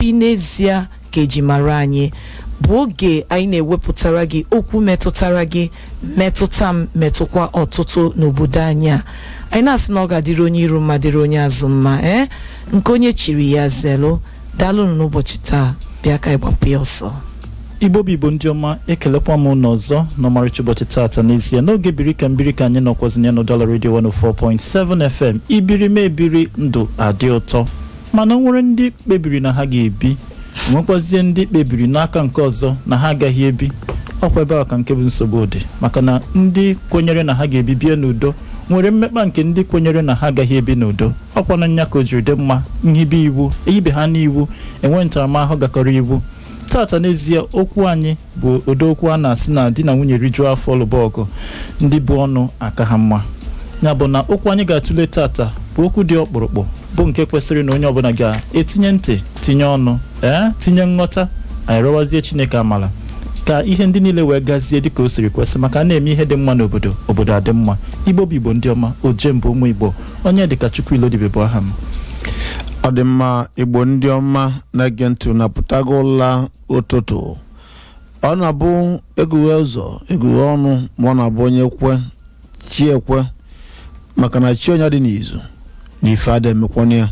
Obi n'ezie ka eji mara anyị bụ oge anyị na-ewepụtara gị okwu metụtara gị metụta m metụkwa ọtụtụ n'obodo anyị a anyị na-asị na ọ ga-adịrị onye iru mma dịrị onye azụ mma ee nke onye chiri ya zelu daalụnụ n'ụbọchị taa bịa ka anyị gbapụ ya ọsọ igbo bụ igbo ndị ọma ekelekwa m ụnụ ọzọ n'ọmarịcha ụbọchị taata n'ezie n'oge biri ka m biri ka anyị nọkwazị ya n'Ụdala redio 104.7 fm i biri m ebiri ndụ adị ụtọ mana o nwere ndị kpebiri na ha ga-ebi nwekwazie ndị kpebiri n'aka nke ọzọ na ha agaghị ebi ọkwa ebe a ka nke bụ nsogbu dị maka na ndị kwenyere na ha ga-ebi bie n'udo nwere mmekpa nke ndị kwenyere na ha agaghị ebi n'udo ọkwa na nya ka o jiri dị mma nhibe iwu ehibe ha n'iwu enwe ntaramahụhụ gakọrọ iwu tata n'ezie okwu anyị bụ ụdị okwu a na-asị na di na nwunye rijuo afọ lụba ọgụ ndị bu ọnụ aka ha mma nya bụ na okwu anyị ga-atụle tata bụ okwu dị ọkpụrụkpụ bụ nke kwesịrị na onye ọbụla ga-etinye ntị tinye ọnụ ee tinye nghọta anyị rịọwazie chineke amala ka ihe ndị niile wee gazie dịka o siri kwesị maka na e mee ihe dị mma n'obodo obodo adị mma igbo bụ igbo ndị ọma ojemba ụmụ igbo Onyedịkachukwu Ilodibe bụ aha m ọ dị mma igbo ndị ọma na-ege ntị ụnụ apụtago ụla ụtụtụ ọ na-abụ egughe ụzọ egughe ọnụ ma ọ na-abụ onye kwe chi ya ekwe maka na chi onye adị n'izu na ife ada emekwanụ ya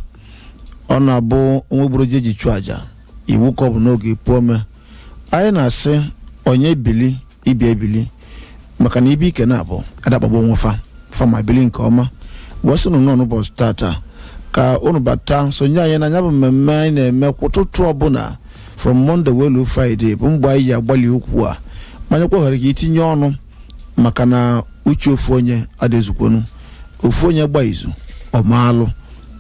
ọ na-abụ ọnwụ egburo ji eji chụọ aja iwu ka ọ bụ na ọ ga-epu ome anyị na-asị onye bili ibe ya ebili maka na ibe ike naabọ ada akpagbu onwe fa fa ma bili nke ọma wee sị ụnụ n'ụbọchị tata ka unu bata sonye anyị na ya bụ mmemme anyị na-eme kwa ụtụtụ ọbụla from Monday wee luo Friday bụ mgbe anyị ji agbali okwu a ma nyekwa oghere ka i tinye ọnụ maka na uche ofu onye adị ezukwanụ ofu onye gba izu o mee alụ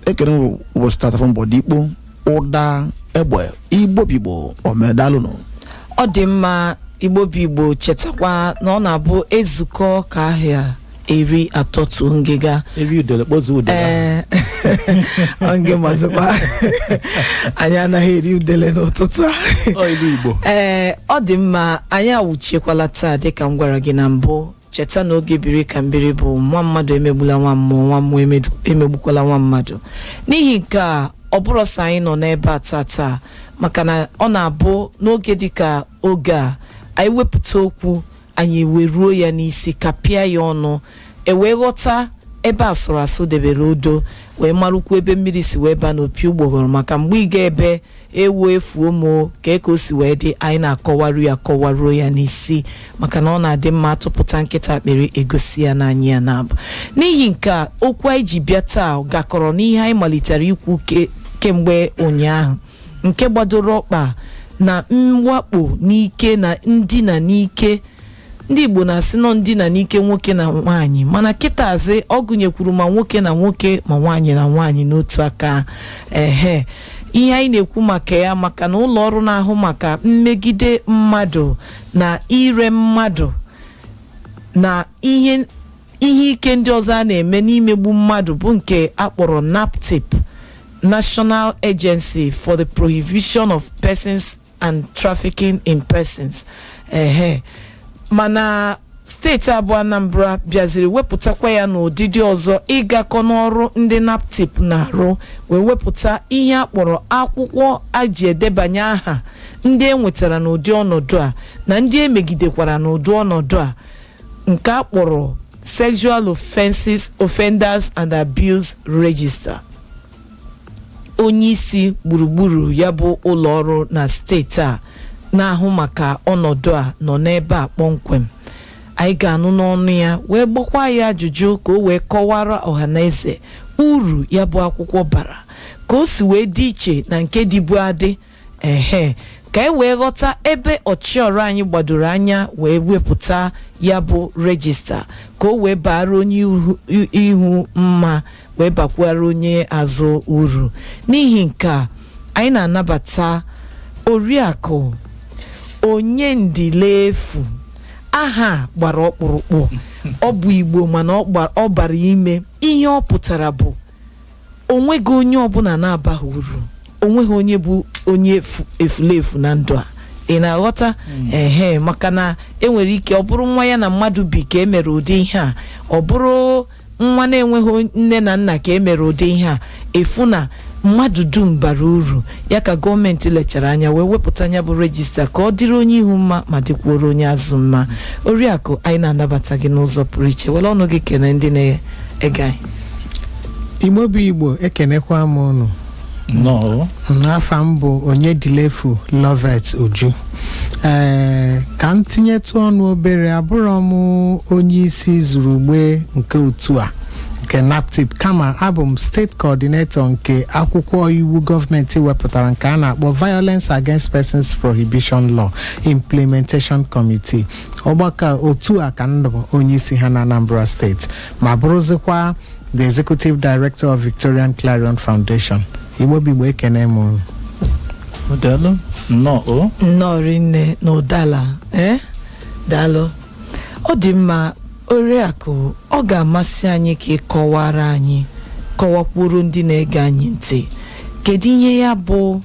ekene m ụbọchị tata fọ mbọdị ikpo ụda egbe igbo bụ igbo ọma daalụnụ ọ dị mma igbo bụ igbo chetakwa na ọ na-abụ ezukọ ka aha eri atọtuo ngịga eri udele kpọzuo udele ee onye mazikwa anyị anaghị eri udele n'ụtụtụ a ọ ilu igbo ee ọ dị mma anyị awụchiekwala taa dịka m gwara gị na mbụ cheta na oge biri ka m biri bụ nwa mmadụ emegbula nwa mmụọ nwa mmụọ emedu- emegbukwala nwa mmadụ n'ihi nke a ọ bụrụ sọ anyị nọ n'ebe a taa taa maka na ọ na-abụ n'oge dịka oge a anyị wepụta okwu anyị eweruo ya n'isi kapịa ya ọnụ ewee ghọta ebe a sụrụ asụ debere odo wee marakwu ebe mmiri si wee baa n'opi ụgbọghọrọ maka mgbe ị ga ebe ewu efuo m o ka eke o si wee dị anyị na-akọwaru ya kọwaruo ya n'isi maka na ọ na-adị mma atụpụta nkịta akpịrị egosi ya n'anya ya na-abụ n'ihi nke a okwu anyị ji bịa taa gakọrọ n'ihe anyị malitere ikwu ke- kemgbe ụnyaahụ nke gbadoro ọkpa na mwakpo n'ike na ndina n'ike ndị igbo na-asị na ọ ndina n'ike nwoke na nwaanyị mana kịtazị ọ gụnyekwuru ma nwoke na nwoke ma nwaanyị na nwaanyị n'otu aka ehe ihe anyị na-ekwu maka ya maka na ụlọ ọrụ na-ahụ maka mmegide mmadụ na ire mmadụ na ihe ihe ike ndị ọzọ a na-eme n'imegbu mmadụ bụ nke akpọrọ naptip national agency for the prohibition of persons and trafficking in persons ehe mana steeti a bụ anambra bịaziri wepụtakwa ya n'ụdịdị ọzọ ịgakọ n'ọrụ ndị naptip na-arụ wee wepụta ihe a kpọrọ akwụkwọ a ji edebanye aha ndị e nwetara n'ụdị ọnọdụ a na ndị emegidekwara n'ụdị ọnọdụ a nke a kpọrọ sexual offenses offenders and abuse register onye isi gburugburu ya bụ ụlọ ọrụ na steeti a na-ahụ maka ọnọdụ a nọ n'ebe a kpọmkwem anyị ga-anụ n'ọnụ ya wee gbakwa ya ajụjụ ka o wee kọwara ọhaneze uru ya bụ akwụkwọ bara ka o si wee dị iche na nke dịbu adị ehe ka e wee ghọta ebe ọchịọrụ anyị gbadoro anya wee wepụta ya bụ rejista ka o wee baara onye ihu- i- ihu mma wee bakwara onye azụ uru n'ihi nke a anyị na-anabata oriakụ onyendilefu aha a gbara ọkpụrụkpụ ọ bụ igbo mana ọ gba- ọ bara ime ihe ọ pụtara bụ onweghị onye ọbụla na-abaghị uru onweghị onye bụ onye efu- efulefu na ndụ a ị na-aghọta ehe maka na enwere ike ọ bụrụ nwa ya na mmadụ bi ka emere ụdị ihe a ọ bụrụ nwa na-enweghị on- nne na nna ka emere ụdị ihe a ị fụ na mmadụ dum bara uru ya ka gọọmenti lechara anya wee wepụta ya bụ rejista ka ọ dịrị onye ihu mma ma dịkwuoro onye azụ mma oriakụ anyị na-anabata gị n'ụzọ pụrụ iche were ọnụ gị kene ndị na-ege anyị igbo bụ igbo ekenekwa m ụnụ nnọọ n'afa m bụ onyendilefu lovet uju ee ka m tinyetụ ọnụ obere abụrọ m onye isi izurugbe nke otu a nke naptip kama abụ m state coordinator nke akwụkwọ iwu gọọmenti wepụtara nke a na-akpọ violence against persons prohibition law implementation committee ọgbakọ a, otu a ka ndụ onye isi ha na anambra steeti ma bụrụzikwa the executive director of victorian clarion foundation igbo bụ igbo ekene m unu. Daalụ nnọọ o nnọọ rinne na ụdala ee daalụ ọ dị mma oriakụ ọ ga-amasị anyị ka ị kọwara anyị kọwakwuru ndị na-ege anyị ntị kedu ihe ya bụ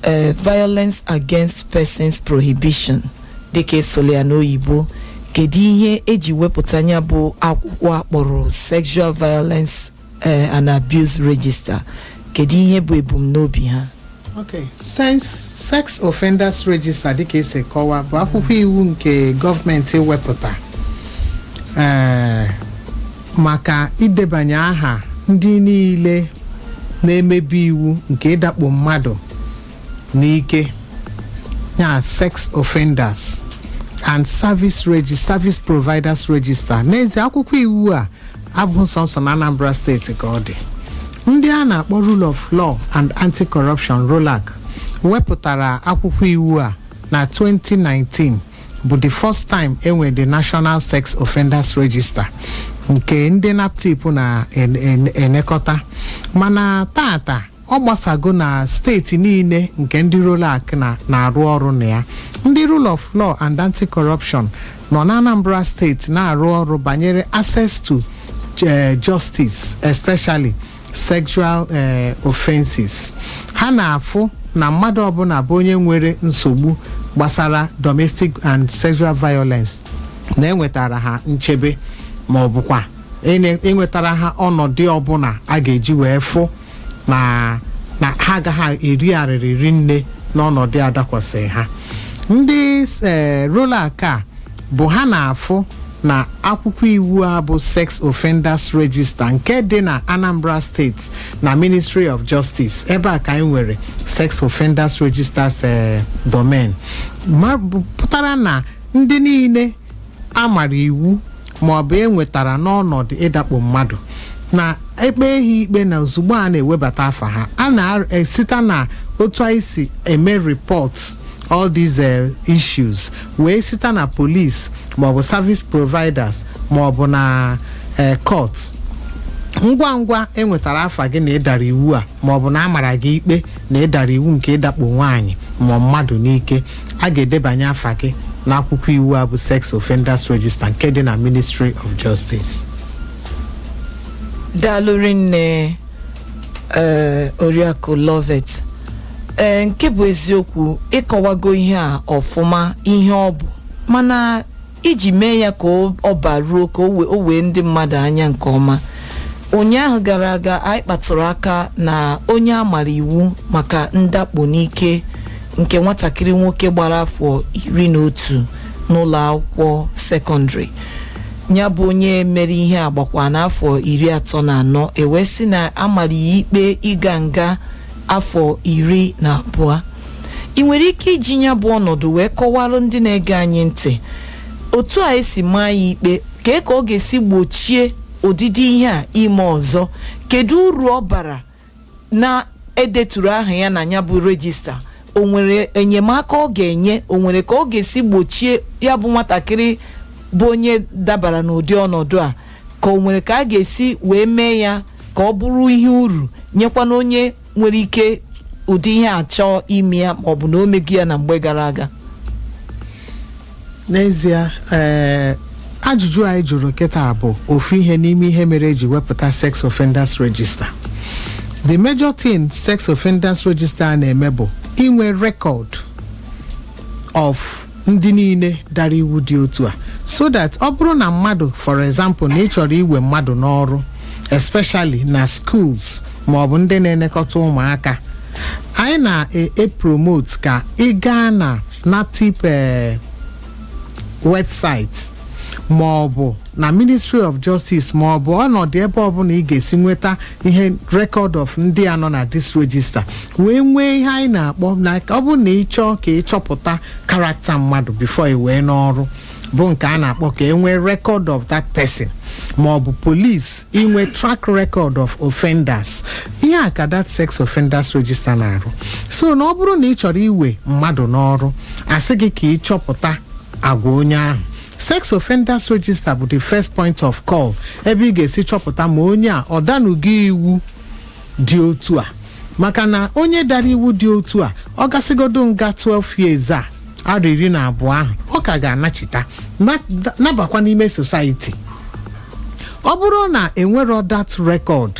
eh, violence against persons prohibition dịka a sụlụ ya n'oyibo kedu ihe eji wepụta ya bụ akwụkwọ akpọrọ sexual violence eh, and abuse register kedu ihe bụ ebumnobi ha Okay. Sex, sex Offenders Register dịka esi kọwa bụ akwụkwọ iwu nke gọọmenti wepụta Eh, maka idebanye aha ndị niile na-emebi iwu nke ịdakpo mmadụ n'ike ya sex offenders and service regi service providers register n'ezie akwụkwọ iwu a abụghị sọsọ na anambra steeti ka ọ dị ndị a na-akpọ rule of law and anti-corruption rolac wepụtara akwụkwọ iwu a na 2019 bụ the first time enwe the National Sex Offenders Register nke ndị naptip na-enekọta mana taata ọ gbasago na steeti niile nke ndị rolac na-arụ ọrụ na ya ndị rule of law and anti-corruption nọ na Anambra steeti na-arụ ọrụ banyere access to justice especially sexual eh, offenses ha na-afụ na mmadụ ọbụna bụ onye nwere nsogbu gbasara domestic and sexual violence na-enwetara ha nchebe ma ọ bụkwa ene- enwetara ha ọnọdụ ọbụna a ga-eji wee fụ na na ha agaghị eri arịrị rinne n'ọnọdụ a dakwasịrị ha ndị eh, rolac a bụ ha na-afụ na akwụkwọ iwu a bụ sex offenders register nke dị na anambra steeti na ministry of justice ebe a ka anyị nwere sex offenders registers eh, domain ma bụ- pụtara na ndị niile a mara iwu ma ọ bụ e nwetara n'ọnọdụ ịdakpo mmadụ na-ekpe ha ikpe na ozugbo a na-ewebata afa ha a na-esite na otu anyị si eme report all these uh, issues wee site na police maọbụ service providers maọbụ na uh, court ngwa ngwa e nwetara afa gị na ị dara iwu a maọbụ na a mara gị ikpe na ị dara iwu nke ịdakpo nwaanyị ma mmadụ n'ike a ga-edebanye afa gị n'akwụkwọ iwu a bụ sex offenders register nke dị na ministry of justice daalụ rinne ee oriakụ lovet ee nke bụ eziokwu ị kọwago ihe a ọfụma ihe ọ bụ mana iji mee ya ka ọ ọ baruo ka o wee- o wee ndị mmadụ anya nke ọma ụnyaahụ gara aga anyị kpatụrụ aka na onye a mara iwu maka ndakpo n'ike nke nwatakịrị nwoke gbara afọ iri na otu n'ụlọ akwụkwọ sekọndịrị ya bụ onye mere ihe a gbakwa n'afọ iri atọ na anọ e wee sị na a mara ya ikpe ịga nga afọ iri na abụọ i nwere ike iji ya bụ ọnọdụ wee kọwara ndị na-ege anyị ntị otu a e si maa ya ikpe kee ka ọ ga-esi gbochie ụdịdị ihe a ime ọzọ kedu uru ọ bara na e deturu aha ya na ya bụ register o nwere enyemaka ọ ga-enye o nwere ka ọ ga-esi gbochie ya bụ nwatakịrị bụ onye dabara n'ụdị ọnọdụ a ka o nwere ka a ga-esi wee mee ya ka ọ bụrụ ihe uru nyekwana onye nwere ike ụdị ihe a chọọ ime ya maọbụ na o mego ya na mgbe gara aga n'ezie ee ajụjụ a ị jụrụ kịta bụ ofu ihe n'ime ihe mere e ji wepụta sex offenders register the major thing sex offenders register a na-eme bụ inwe record of ndị niile dara iwu dị otu a so that ọ bụrụ na mmadụ for example na ị chọrọ iwe mmadụ n'ọrụ especially na schools maọbụ ndị na-elekọta ụmụaka anyị na-epromote ka ị gaa na naptip eh, website ma ọ bụ na ministry of justice ma ọ bụ ọnọdụ ebe ọbụla ị ga-esi nweta ihe record of ndị a nọ na this register wee nwee ihe anyị na-akpọ na ọ bụrụ na ị chọọ ka ị chọpụta character mmadụ before i wee n'ọrụ bụ nke a na-akpọ ka e nwee record of that person ma ọ bụ police inwe track record of offenders ihe a ka that sex offenders register na-arụ so na ọ bụrụ na ị chọrọ iwe mmadụ n'ọrụ a sị gị ka ị chọpụta agwa onye ahụ sex offenders register bụ the first point of call ebe ị ga-esi chọpụta ma onye a ọ danugo iwu dị otu a maka na onye dara iwu dị otu a ọ gasịgodu nga 12 years a arọ iri na abụọ ahụ ọ ka ga-anachita na- nabakwa n'ime society ọ bụrụ na e nwerọ that record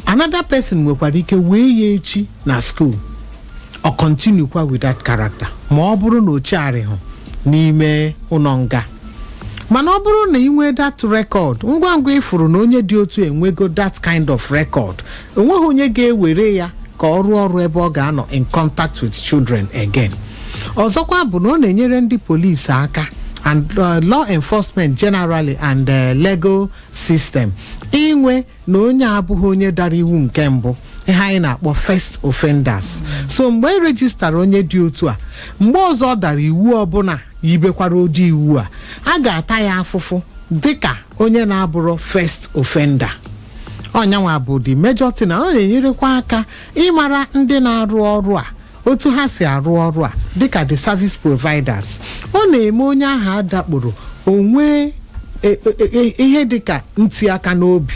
another person nwekwara ike wee ya echi na school ọ continue kwa with that character ma ọ bụrụ na o chegharịghị n'ime ụlọ nga mana ọ bụrụ na i nwee that record ngwa ngwa ị fụrụ na onye dị otu a enwego that kind of record enweghị onye ga-ewere ya ka ọ rụọ ọrụ ebe ọ ga-anọ in contact with children again ọzọkwa bụ na ọ na-enyere ndị polisi aka and uh, law enforcement generally and uh, legal system inwe na onye abụghị onye dara iwu nke mbụ ihe anyị na-akpọ first offenders so mgbe e rejistara onye dị otu a mgbe ọzọ ọ dara iwu ọbụla yibekwara ụdị iwu a a ga-ata ya afụfụ dịka onye na-abụrọ first offender ọ yanwa bụ the major thing na ọ na-enyerekwa aka ịmara ndị na-arụ ọrụ a otu ha si arụ ọrụ a dịka the service providers ọ na-eme onye ahụ a dakporo o nwee e- e- e- ihe dịka nti aka n'obi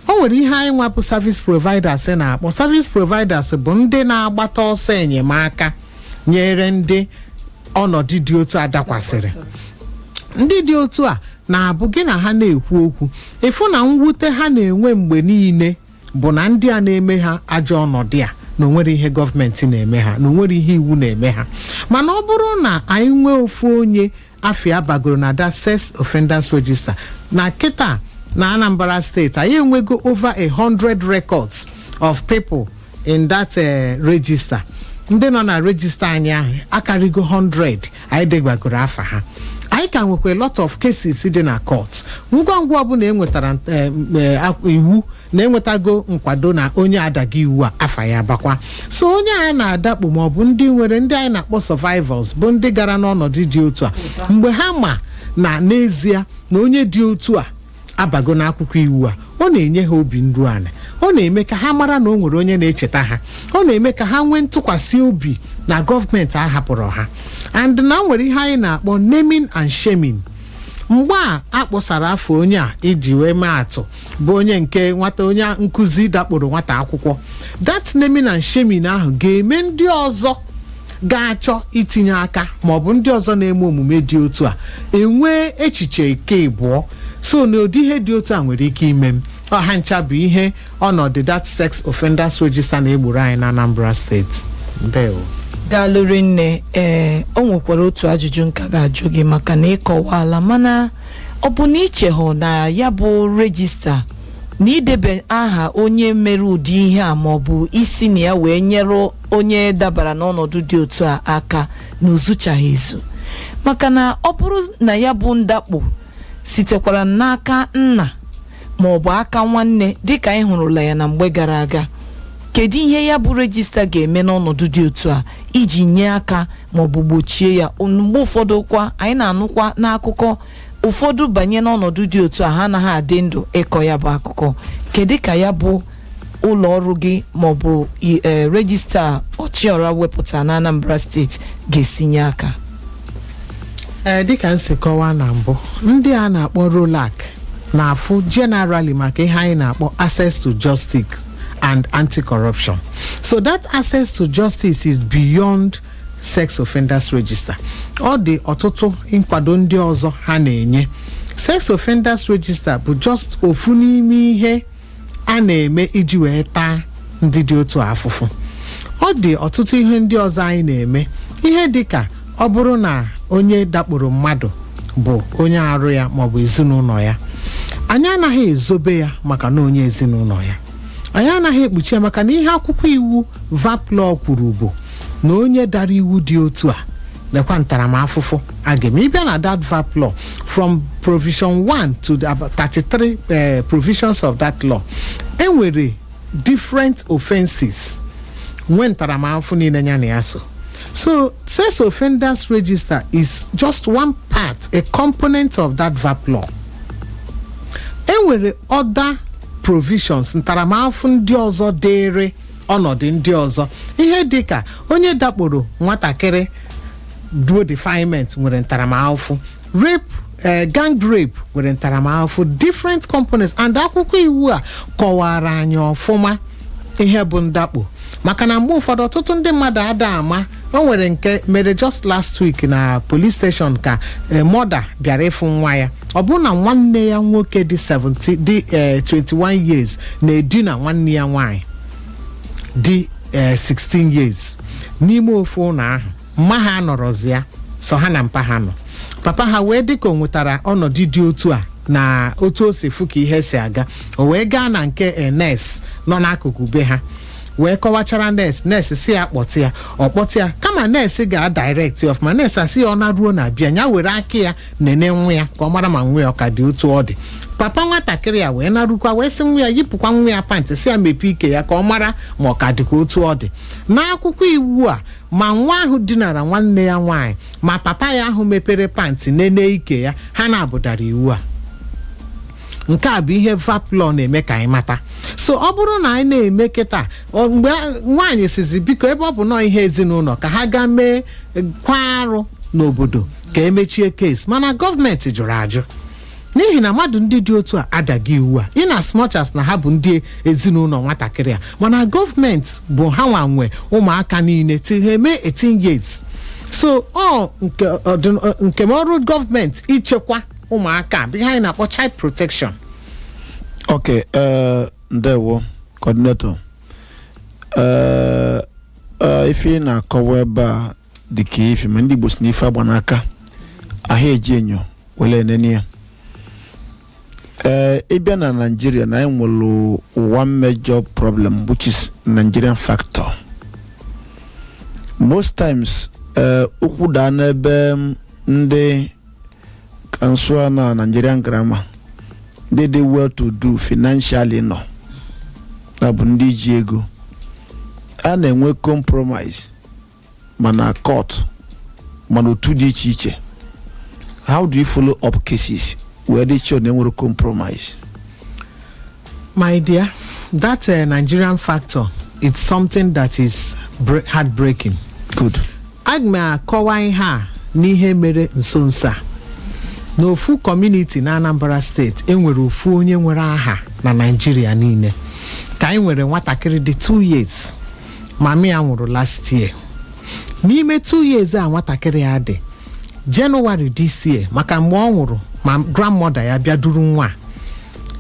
o nwere ihe anyị nwa bụ service providers na-akpọ service providers bụ ndị na-agbata ọsọ enyemaka nyere ndị ọnọdụ dị otu a dakwasịrị ndị dị otu a na-abụ gị na ha na-ekwu okwu ị fụ na mwute ha na-enwe mgbe niile bụ na ndị a na-eme ha ajọ ọnọdụ a na o nwerọ ihe gọọmenti na-eme ha na o nwerọ ihe iwu na-eme ha mana ọ bụrụ na anyị nwee ofu onye afa ya bagoro na that sex offenders register na kịta na anambra steeti anyị enwego over a hundred records of people in that eh, register ndị nọ na register anyị ahụ akarịgo 100 anyị debagoro afa ha anyị ka nwekwa a lot of cases dị na court ngwa ngwa ọbụla enwetara eh, m, eh, ak- iwu na enwetago nkwado na onye adago iwu a afa ya bakwa so onye a na-adakpo ma ọ bụ ndị nwere ndị anyị na-akpọ survivors bụ ndị gara n'ọnọdụ dị otu a mgbe ha ma na n'ezie na onye dị otu a abago n'akwụkwọ iwu a ọ na-enye ha obi nru ala ọ na-eme ka ha mara na o nwere onye na-echeta ha ọ na-eme ka ha nwee ntụkwasị obi na gọọmenti ahapụrọ ha and na nwere ihe anyị na-akpọ naming and shaming mgbe a kpọsara afa onye a i ji wee mee atụ bụ onye nke nwata onye nkụzi dakporo nwata akwụkwọ that naming and shaming ahụ ga-eme ndị ọzọ ga-achọ itinye aka ma ọ bụ ndị ọzọ na-eme omume dị otu a enwee echiche nke ịbụọ so na ụdị ihe dị otu a nwere ike ime m ọ ha ncha bụ ihe ọnọdụ that sex offenders register na-egboro anyị na Anambra steeti ndewo daalụ rinne ee o nwekwara otu ajụjụ m ka ga-ajụ gị maka na ị kọwaala mana ọ bụ na i chehụ na ya bụ rejista na idebe aha onye mere ụdị ihe a ma ọ bụ isi na ya wee nyere onye dabara n'ọnọdụ dị otu a aka na o zuchaghị ezu maka na ọ bụrụ na ya bụ ndakpo sitekwara n'aka nna ma ọ bụ aka nwanne dịka anyị hụrụla ya na mgbe gara aga kedu ihe ya bụ rejista ga-eme n'ọnọdụ dị otu a iji nye aka ma ọ bụ gbochie ya mgbe ụfọdụ kwa anyị na-anụkwa n'akụkọ ụfọdụ banye n'ọnọdụ dị otu a ha anaghị adị ndụ ịkọ ya bụ akụkọ kedu ka ya bụ ụlọ ọrụ gị maọbụ i- eh, rejista ọchịọra wepụta na anambra steeti ga-esi nye aka ee dịka m si kọwaa na mbụ ndị a na-akpọ rolac na-afụ generally maka ihe anyị na-akpọ access to justice and anti-corruption so that access to justice is beyond sex offenders register ọ dị ọtụtụ nkwado ndị ọzọ ha na-enye sex offenders register bụ just ofu n'ime ihe a na-eme iji wee taa ndị dị otu a afụfụ ọ dị ọtụtụ ihe ndị ọzọ anyị na-eme ihe dị ka ọ bụrụ na onye dakporo mmadụ bụ onye arụ ya maọbụ ezinụlọ ya anyị anaghị ezobe ya maka na onye ezinụlọ ya anyị anaghị ekpuchi ya maka na ihe akwụkwọ iwu vap law kwuru bụ na onye dara iwu dị otu a lekwa ntaramafụfụ a ga-eme ị bịa na that vap law from provision 1 to the about 33 eh, provisions of that law enwere different offenses nwee ntaramafụfụ niile ya na ya so so sex offenders register is just one part a component of that vap law enwere other provisions ntaramafụfụ ndị ọzọ dịịrị ọnọdụ ndị ọzọ ihe dị ka onye dakporo nwatakịrị duo defilement nwere ntaramafụfụ rape eh, gang rape nwere ntaramafụfụ different components and akwụkwọ iwu a kọwaara anyị ọfụma ihe bụ ndakpo maka na mgbe ụfọdụ ọtụtụ ndị mmadụ ada ama o nwere nke mere just last week na police station ka eh, mother bịara ịfụ nwa ya ọ bụrụ na nwanne ya nwoke dị 70 dị eh, 21 years na-edina nwanne ya nwaanyị dị eh, 16 years n'ime ofu ụnọ ahụ mma ha anọrọzi ya sọ ha na mpa ha nọ papa ha wee dịka o nwetara ọnọdụ dị otu a na otu o si fụ ka ihe si aga o wee gaa na nke nurse nọ n'akụkụ be ha wee kọwachara nurse nurse sị ya kpọta ya ọ kpọta ya kama nurse ga direct ya ọfụma nurse asị ya ọ naruo na be ya were aka ya nene nwa ya ka ọ mara ma nwa ya ọ ka dị otu ọ dị papa nwatakịrị a wee narukwa wee sị nwa ya yipụkwa nwa ya pantị sị ya mepee ike ya ka ọ mara ma ọ ka dịkwa otu ọ dị n'akwụkwọ iwu a ma nwa ahụ dinara nwanne ya nwaanyị ma papa ya ahụ mepere pantị nene ike ya ha naabọ dara iwu a nke a bụ ihe vap law na-eme ka anyị mata so ọ bụrụ na anyị na-eme kịta ọ- mgbe a- nwaanyị sịzi biko ebe ọ bụ na ọ ihe ezinụnọ ka ha gaa mee eh, kwa arụ n'obodo ka e mechie case mana gọọmenti jụrụ ajụ n'ihi na mmadụ ndị dị otu a adago iwu a in as much as na ha bụ ndị ezinụnọ nwatakịrị a mana gọọmenti bụ ha nwa nwe ụmụaka niile till ha eme 18 years so ọ nke ọdịn- nke ọrụ gọọmenti ichekwa ụmụaka bụ ihe anyị na-akpọ child protection ok ee ndewo coordinator ee ee, ife ị na-akọwa ebe a dị ka ife ma ndị igbo sị na ife agba n'aka a ha eji enyo wele enene ya ee ị bịa na naijiria na anyị nwere one major problem which is nigerian factor most times ee okwu daa n'ebe ndị ka m sụa na nigerian grammar ndị dị well to do financially nọ ya bụ ndị ji ego a na-enwe compromise ma na court ma na otu dị iche iche how do you follow up cases wee dị sure na enwerọ compromise my dear that uh, nigerian factor it's something that is bre- heartbreaking good aga m akọwa ihe a n'ihe mere nso nso a n'ofu community na anambra state enwere ofu onye nwere aha na naijiria niile ka anyị nwere nwatakịrị dị 2 years mami ya nwụrụ last year n'ime 2 years a nwatakịrị a dị january this year maka mgbe ọ nwụrụ ma grandmother ya bịa duru nwa a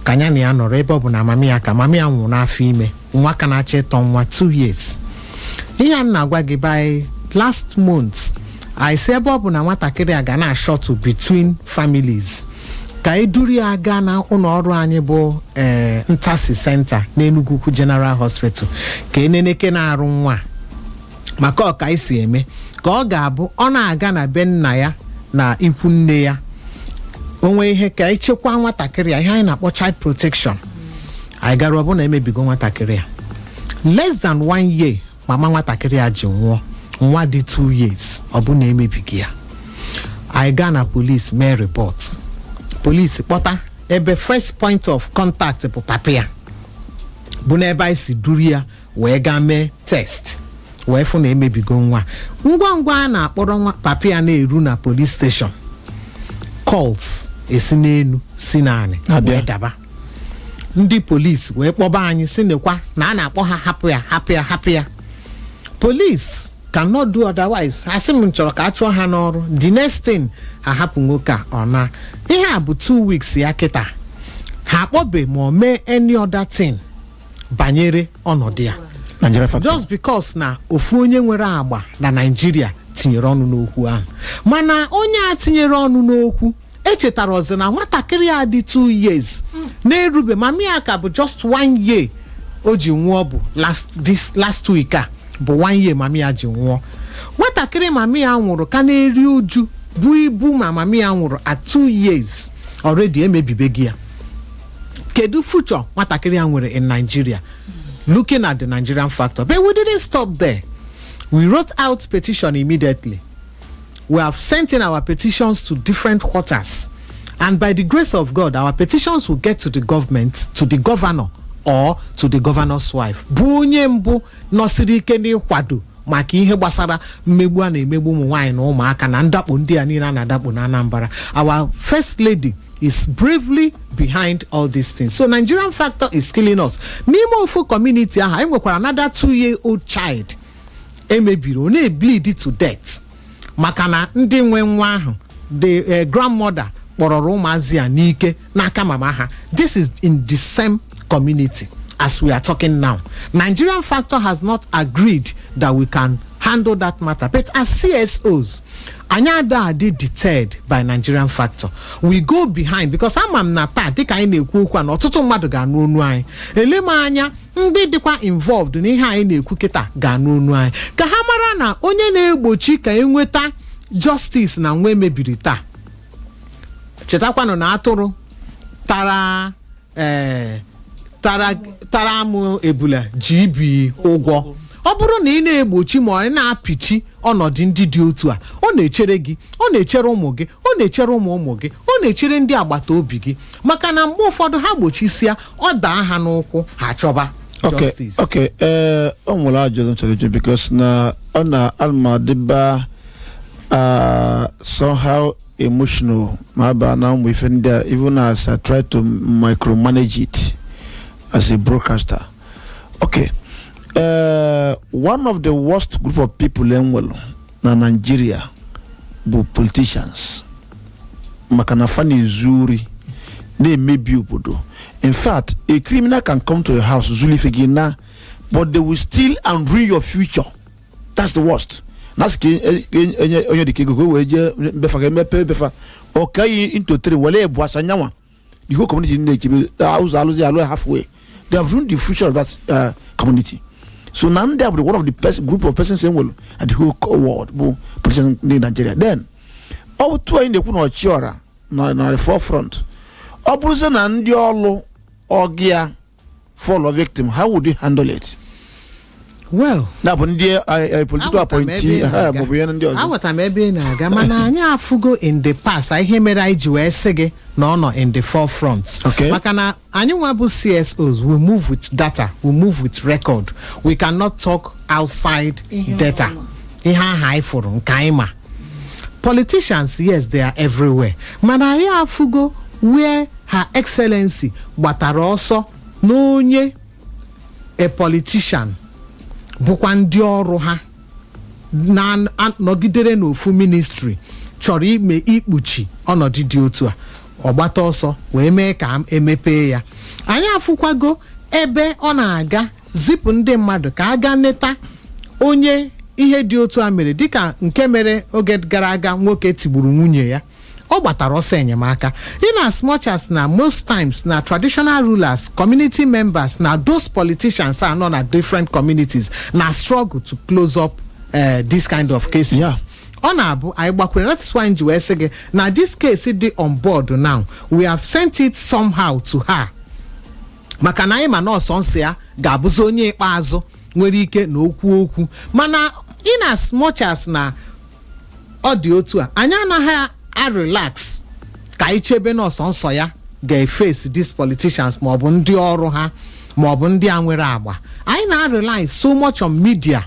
ka nya na ya nọrọ ebe ọ bụ na mama ya ka mama ya nwụrụ n'afọ ime nwa ka na-achọ ịtọ nwa 2 years ihe a m na-agwa gị by last month anyị sị ebe ọ bụ na nwatakịrị a ga na-ashuttle between families ka anyị duru ya gaa na ụlọ ọrụ anyị bụ ee ntasi center n'Enugwu Ukwu General Hospital ka e nenekene arụ nwa a. maka ọ ka anyị si eme ka ọ ga-abụ ọ na-aga na be nna ya na ikwu nne ya o nwee ihe ka anyị chekwaa nwatakịrị a ihe anyị na-akpọ child protection anyị gara ọ bụ na emebigo nwatakịrị a less than one year mama nwatakịrị a ji nwụọ nwa dị two years ọ bụ na emebigo ya anyị gaa na police mee report police kpọta ebe first point of contact bụ papa ya bụ n'ebe anyị si duru ya wee gaa mee test wee fụ na emebigo nwa ngwa ngwa a na-akpọrọ papa ya na-eru na police station calls esi n'enu si n'anị bịa wee daba ndị police wee kpọba anyị sị nekwa na a na-akpọ ha hapụ ya hapụ ya hapụ ya police cannot do otherwise ha sị m m chọrọ ka a chụọ ha n'ọrụ the next thing ha hapụ nwoke a ọ naa ihe a bụ two weeks ya kịta ha akpọbe ma ọ mee any other thing banyere ọnọdụ ya Nigeria factor. just because na ofu onye nwere agba na naijiria tinyere ọnụ n'okwu ahụ mana onye a tinyere ọnụ n'okwu echetarọzi na nwatakịrị a dị 2 years na-erube mami ya ka bụ just one year o ji nwụọ bụ last this last week a bụ one year mami ya ji nwụọ nwatakịrị mami ya nwụrụ ka na-eri uju bụ ịbụ nwa mami ya nwụrụ at 2 years already emebibego ya kedu future nwatakịrị a nwere in nigeria looking at the nigerian factor but we didn't stop there we wrote out petition immediately we have sent in our petitions to different quarters and by the grace of god our petitions will get to the government to the governor or to the governor's wife bụ onye mbụ nọsiri ike n'ịkwado maka ihe gbasara mmegbu a na-emegbu ụmụ nwaanyị na ụmụaka na ndakpo ndị a niile a na-adakpo na Anambra our first lady is bravely behind all these things so Nigerian factor is killing us n'ime ofu community ahụ anyị nwekwara another two year old child emebiri ọ na-ebleed to death maka na ndị nwe nwa ahụ the eh, grandmother kpọrọrọ ụmụazị a n'ike n'aka mama ha this is in the same community as we are talking now nigerian factor has not agreed that we can handle that matter but as csos anyị ada adị deterred by nigerian factor we go behind because ama m na taa dịka anyị na-ekwu okwu a na ọtụtụ mmadụ ga-anụ onu anyị ele m anya ndị dịkwa involved n'ihe anyị na-ekwu kịta ga-anụ onu anyị ka ha mara na onye na-egbochi ka enweta justice na nwa emebiri taa chetakwanụ na atụrụ tara ee tara tara amụ ebula ji ibi ụgwọ ọ bụrụ na ị na-egbochi ma na-apịchi ọnọdụ ndị dị otu a ọ na-echere gị ọ na-echere ụmụ gị ọ na-echere ụmụ ụmụ gị ọ na-echere ndị agbata obi gị maka na mgbe ụfọdụ ha gbochisia ọ daa ha n'ụkwụ ha chọba okay justice okay ee o nwere ajụjụ m chọrọ ịjụ because na a na m adịba uh, somehow emotional ma a ba na ụmụ ife ndị a even as I try to micromanage it as a broadcaster okay uh, one of the worst group of people enwelu na naijiria bụ politicians maka na fa na-ezu ori na-emebi obodo in fact a criminal can come to your house zulu ife gị naa but they will steal and ruin your future that's the worst na-asị ka e- e- enye onye dịka ego ka o wee jee na be fa ka emepe be fa o kee ya into three were ibụa sa nya nwa the whole community na-echebe ụzọ alụzi alụ halfway they have ruined the future of that uh, community so na ndị a bụ one of the pers- group of persons enwelu in the whole co- world bụ politicians ndị nigeria then ọ bụ etu anyị na-ekwu na ọchịọra nọ na the forefront ọ bụrụzie na ndị ọlụ ọga ya fall victim how would you handle it well na bụ ndị eh, eh, political aghọtara m ebe appointee ị na-aga. maọbụ ihe ndị ọzọ aghọtara m ebe ị na-aga mana anyị afụgo in the past a ihe mere anyị ji wee sị gị na ọ nọ in the forefront Okay. maka na anyị nwa bụ csos we move with data we move with record we cannot talk outside data ihe aha anyị fụrụ nke anyị ma politicians yes they are everywhere mana anyị afụgo where her excellency gbatara ọsọ na onye a politician bụkwa ndị ọrụ ha nọgidere n'ofu ministri chọrọ ime ikpuchi ọnọdụ dị otu a ọ gbata ọsọ wee mee ka e mepee ya anyị afụkwago ebe ọ na-aga zipụ ndị mmadụ ka a gaa neta onye ihe dị otu a mere dịka nke mere oge gara aga nwoke tigburu nwunye ya ọ gbatara ọsọ enyemaka in as much as na most times na traditional rulers community members na those politicians a nọ na different communities na struggle to close up eh, this kind of cases Yeah. ọ na-abụ anyị gbakwere that is why m ji wee sị gị na this case dị on board now we have sent it somehow to her maka na anyị ma na ọ sọnsọ ya ga-abụzi onye ikpeazụ nwere ike na-ekwu okwu mana in as much as na ọ dị otu a anyị anaghị a relax ka anyị chebe na ọ sọnsọ ya ga-e face these politicians maọbụ ndị ọrụ ha maọbụ ndị a nwere agba anyị na-arely so much on media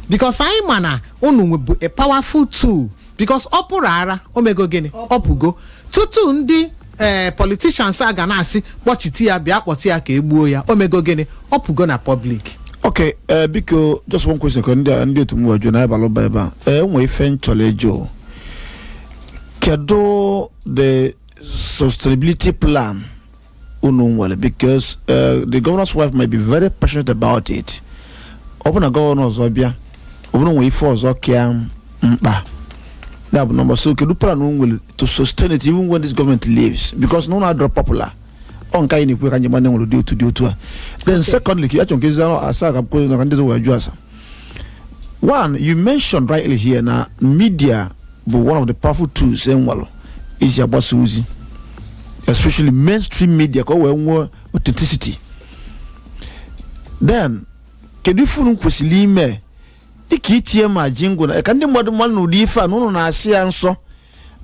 because anyị ma na unu bụ a powerful tool because ọ pụrụ hara o mego gịnị ọ pụgo tutu ndị ee politicians a ga na-asị kpọchiti ya bịa kpọti ya ka e gbuo ya o mego gịnị ọ pụgo na public ok ee biko just one question ka ndị a- ndị otu m wee jụọ na a balụ ụba ebe a ee nwee ife m chọrọ ịjụ kedu the sustainability plan unu nwere because uh, the governor's wife might be very passionate about it ọ bụ na governor ọzọ bịa ọ bụ na e nwere ife ọzọ ka ya mkpa ya bụ nọmba so kedu plan unu nwere to sustain it even when this government leaves because na unu adịrọ popular ọ nke anyị na-ekwu ka anyị ma na e nwere otu dị otu a then secondly ka ya chọrọ ka ezi arụ asa ka kwuo na ka ndị ọzọ wee jụ ase one you mentioned rightly here na media bụ one of the powerful tools e nwelụ iji agbasa ozi especially mainstream media ka o wee nwee authenticity then kedu ife unu kwesịrị ime dịka itinye ma jingle na ka ndị mmadụ malụ na ụdị ife a na ụnụ na-asọ ya nsọ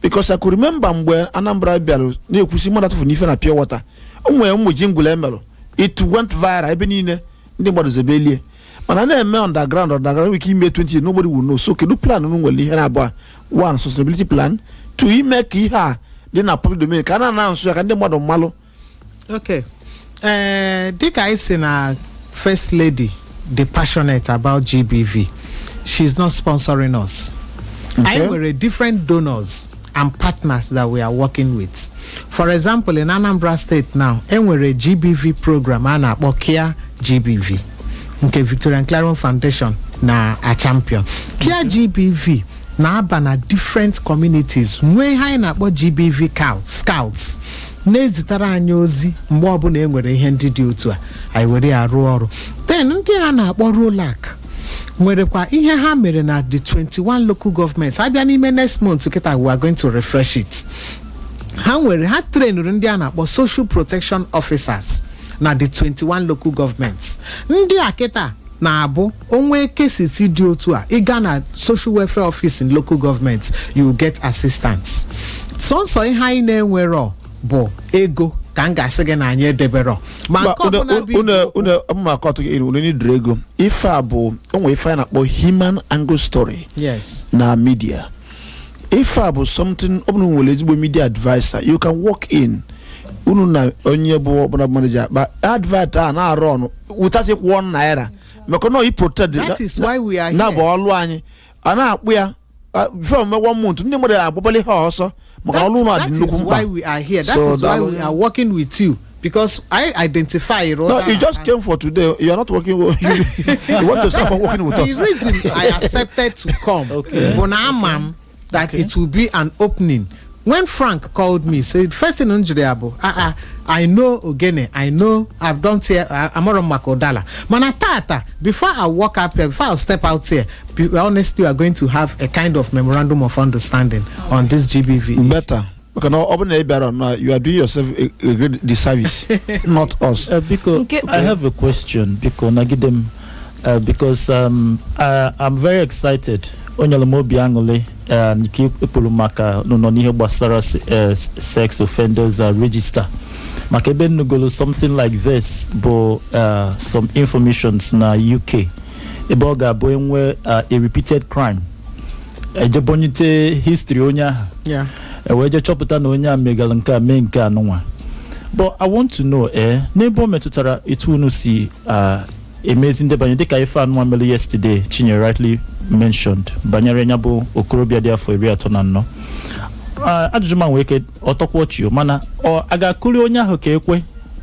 because I could remember mgbe Anambra bịara na-ekwusi mmadụ atụfuna ife na pure water o nwere ụmụ jingle e merụ it went viral ebe niile ndị mmadụ zebe elie mana na-eme underground underground nwere ike ime 20 nobody will know so kedu plan unu nwere ihe naabọ one sustainability plan two ime ka ihe a dị na public domain ka a na-announce ya ka ndị mmadụ malụ okay ee dịka anyị sị na first lady dị passionate about gbv she's not sponsoring us anyị nwere different donors and partners that we are working with for example in anambra state now e nwere gbv program a na-akpọ kia gbv nke victorian clarion foundation na-achampion kia gbv na-aba na different communities nwee ihe anyị na-akpọ GBV cow- scouts na-ezitere anyị ozi mgbe ọbụla e nwere ihe ndị dị otu a anyị were ya rụọ ọrụ then ndị a na-akpọ ROLAC nwerekwa ihe ha mere na the 21 local governments a bịa n'ime next month kịta we are going to refresh it ha nwere ha trainụrụ ndị a na-akpọ social protection officers na the 21 local governments ndị a kịta na-abụ o nwee cases dị otu a ị gaa na social welfare office in local government you will get assistance sọnsọ ihe anyị na-enwerọ bụ ego ka m ga-asị gị na anyị edeberọ ma Ma nke ọbụla bụ unu iji- unu mma akọtụ gị unu needịrị ego ife a bụ o nwe ife a na-akpọ human angle story yes na media ife a bụ something ọ bụrụ unu nwere ezigbo media adviser you can walk in unu na onye bụ ọbụla manager akpaa advert a na-arụ ọnụ wụtachi kwụọ naira maka na i protect That is why we are na bụ here. ọlụ anyị a na-akpụ ya fem me one month ndị mmadụ agbabali ha ọsọ maka na ọlụ unu That- dị that nnukwu is mkpa why we are here. That So, is why daalụ. we are working with you. because I identify no Rhoda you just as- came for today you are not working with you, you want to start working with the us reason I accepted to come Okay. bụ na ama m that it will be an opening when Frank called me say the first thing m jụrụ ya bụ ah ah I know ogene I know I've done tear amụrụ m maka ụdala mana tata before I walk up here before I step out here be honest you are going to have a kind of memorandum of understanding on this GBV better maka na ọ bụrụ na ị bịara na you are doing yourself a, a great disservice not us Uh, biko Nke- i have a question biko nagide m uh, because um, I, i'm very excited o nyere m obi aṅụrị uh, nke i kwuru maka nọ n'ihe gbasara se- uh, sex offenders uh, register maka ebe m nụgolu something like this bụ uh, some informations na uk ebe ọ ga-abụ e nwee uh, a repeated crime e jee bunyite history onye ahụ ya e wee jee chọpụta na onye a megara nke a mee nke a nụnwa but i want to know eh n'ebe o metụtara etu unu si ah, emezi ndebanye dịka ife anụnwa mere yesterday chinyere rightly mentioned banyere ya bụ okorobịa dị afọ iri atọ na anọ Ah, ajụjụ m a nwee ike ọ tọkwa ọchị o, mana ọ a ga-akụri onye ahụ ka ekwe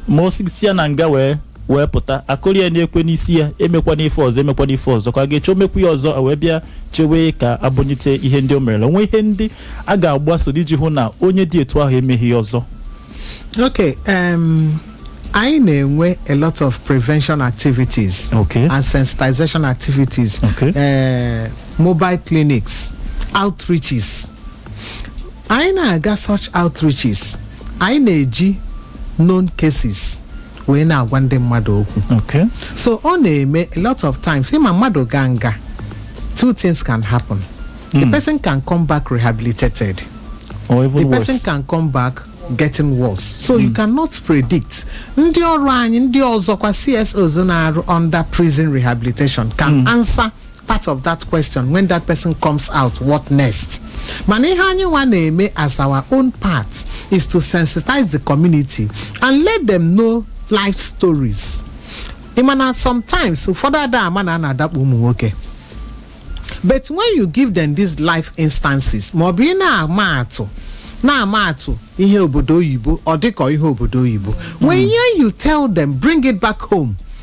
ma o si ya na nga wee wee pụta a kụrụ ya n'ekwe n'isi ya emekwana ife ọzọ emekwana ife ọzọ ka a ga-eche o mekwuo ya ọzọ e wee bịa chewe ka e bunyite ihe ndị o merela o nwe ihe ndị a ga-agbaso iji hụ na onye dị etu ahụ emeghị ya ọzọ okay um, anyị na-enwe a lot of prevention activities Okay. and sensitization activities Okay. eh, mobile clinics outreaches anyị na-aga such outreaches anyị na-eji known cases wee na-agwa ndị mmadụ okwu Okay. so ọ na-eme a lot of times ị ma mmadụ gaa nga two things can happen the person can come back rehabilitated Or the even person worse. can come back getting worse so you cannot predict ndị ọrụ anyị ndị ọzọkwa CSOs na-arụ under prison rehabilitation can answer part of that question when that person comes out what next mana ihe anyị nwa na-eme as our own part is to sensitize the community and let them know life stories ị ma na sometimes ụfọdụ ada ama na a na-adakpo ụmụ nwoke but when you give them these life instances ma ọ bụ ị na-ama atụ na-ama atụ ihe obodo oyibo ọ dịka ihe obodo oyibo when you tell them bring it back home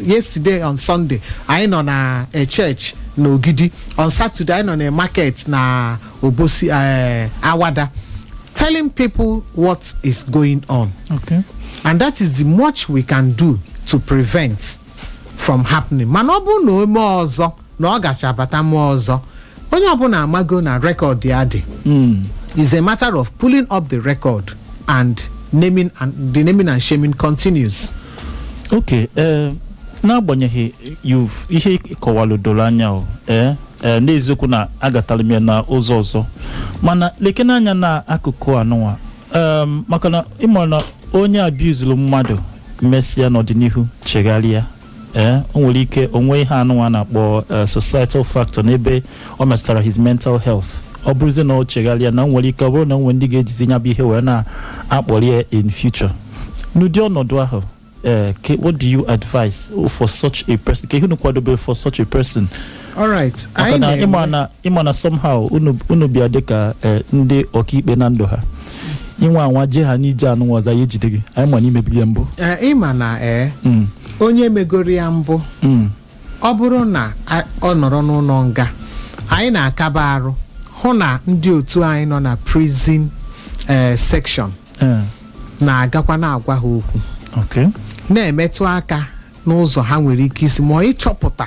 yesterday on sunday anyị nọ na eh, church na ogidi on saturday anyị nọ na market na obosi eh, awada telling people what is going on Okay. and that is the much we can do to prevent from happening mana ọ bụrụ na o mee ọzọ na ọ gacha bata mee ọzọ onye ọbụla amago na record ya dị is a matter of pulling up the record and naming and the naming and shaming continues okay ee n'agbanyeghị you've ihe ị kọwalụ doro anya o ee ee n'eziokwu na aghọtara m ya na ụzọ ọzọ mana lekene anya na akụkụ anụnwa em, maka na ị mara na onye abuse-uru mmadụ mesịa n'ọdịnihu chegharịa ee o nwere ike o nwee ihe anụnwa na-akpọ eh, societal factor n'ebe ọ metụtara his mental health ọ bụrụzie na ọ chegharịa na o nwere ike ọ bụrụ na o nwere ndị ga-ejizi ya bụ ihe were na-akparị ya in future n'ụdị ọnọdụ ahụ eh, ke- what do you advise for such a person kee ihe unu kwadobere for such a person alright maka anyị na ịma na-enwe na ịma na somehow unu unu bịa dịka eh, ndị ọkaikpe na ndụ ha ị nwaa anwa jee ha n'ije anụnwa ọzọ ya ejide gị anyị ma na i meburu ya mbụ Eh, ịma na ee Mm, onye megoro ya mbụ mm, ọ bụrụ na a- ọ nọrọ n'ụlọ nga anyị na-akaba arụ hụ na ndị otu anyị nọ na prison eh, section eh, na-agakwa na-agwa ha okwu okay. na-emetụ aka n'ụzọ ha nwere ike isi ma ịchọpụta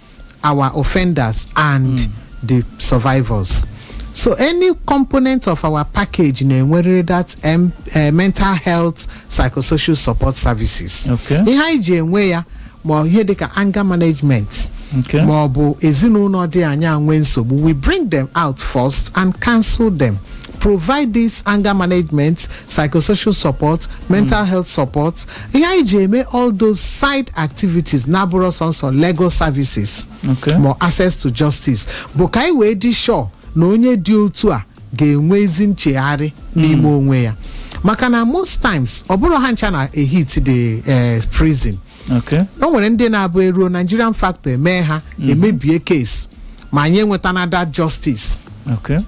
our offenders and mm. the survivors. So any component of our package na-enwerịrị that um, uh, mental health psychosocial support services. Okay. Ihe anyị ji enwe ya ma ihe dịka anger management Okay. ma ọ bụ ezinụlọ dị anyị enwe nsogbu we bring them out first and counsel them provide this anger management psychosocial support mental health support ihe anyị ji eme all those side activities na-abụrọ sọsọ legal services Okay. ma access to justice bụ ka anyị wee dị sure na onye dị otu a ga-enwe ezi nchegharị n'ime onwe ya maka na most times ọ bụrọ ha ncha na-ehit the eh, prison okay o nwere ndị na-abụ eruo nigerian factor emee ha emebie case ma anyị enwetana that justice okay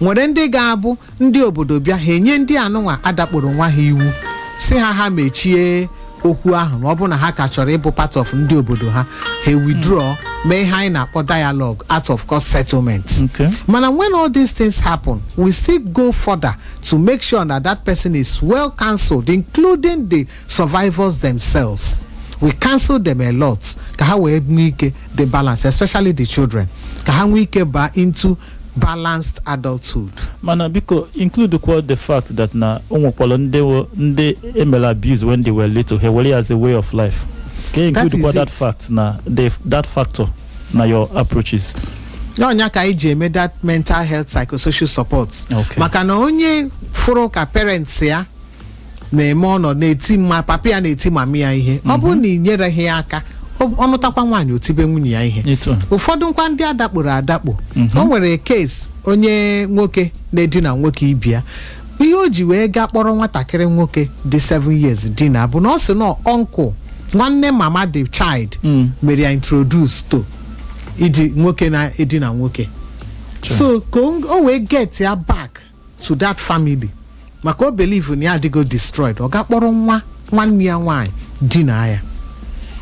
nwere ndị ga-abụ ndị obodo bịa ha enye ndị anụnwa adakporo nwa ha iwu sị ha ha mechie okwu ahụ ma ọ bụ na ha ka chọrọ ịbụ part of ndị obodo ha ha withdraw mee ihe anyị na-akpọ dialogue out of court settlement okay mana when all these things happen we still go further to make sure that that person is well counselled including the survivors themselves we counsel them a lot ka ha wee nwee ike dị balance especially the children ka ha nwee ike ba into balanced adulthood mana biko include kwa the fact that na o nwekwara ndị wo- ndị emere abuse when they were little ha were ya as a way of life ka include That kwa is that it. fact na the that factor na your approaches n'ọ nya ka anyị ji eme that mental health psychosocial support Okay. maka na onye fụrụ ka parents ya na-eme ọ nọdụ na-eti mma papa ya na-eti mama ya ihe ọ bụrụ na ị nyereghị ya aka ọ- ọ nụtakwa nwaanyị o tibe nwunye ya ihe Etu a. ụfọdụ nkwa ndị adakporo adakpo o nwere case onye nwoke na-edina nwoke ibe ya ihe o ji wee gaa kpọrọ nwatakịrị nwoke dị 7 years dina bụ na ọ sị na uncle nwanne mama the child Mm. mere ya introduce to iji nwoke na-edina nwoke so ka o o wee get ya back to that family maka o believe na ya adịgo destroyed ọ ga-akpọrọ nwa nwanne ya nwaanyị dina ya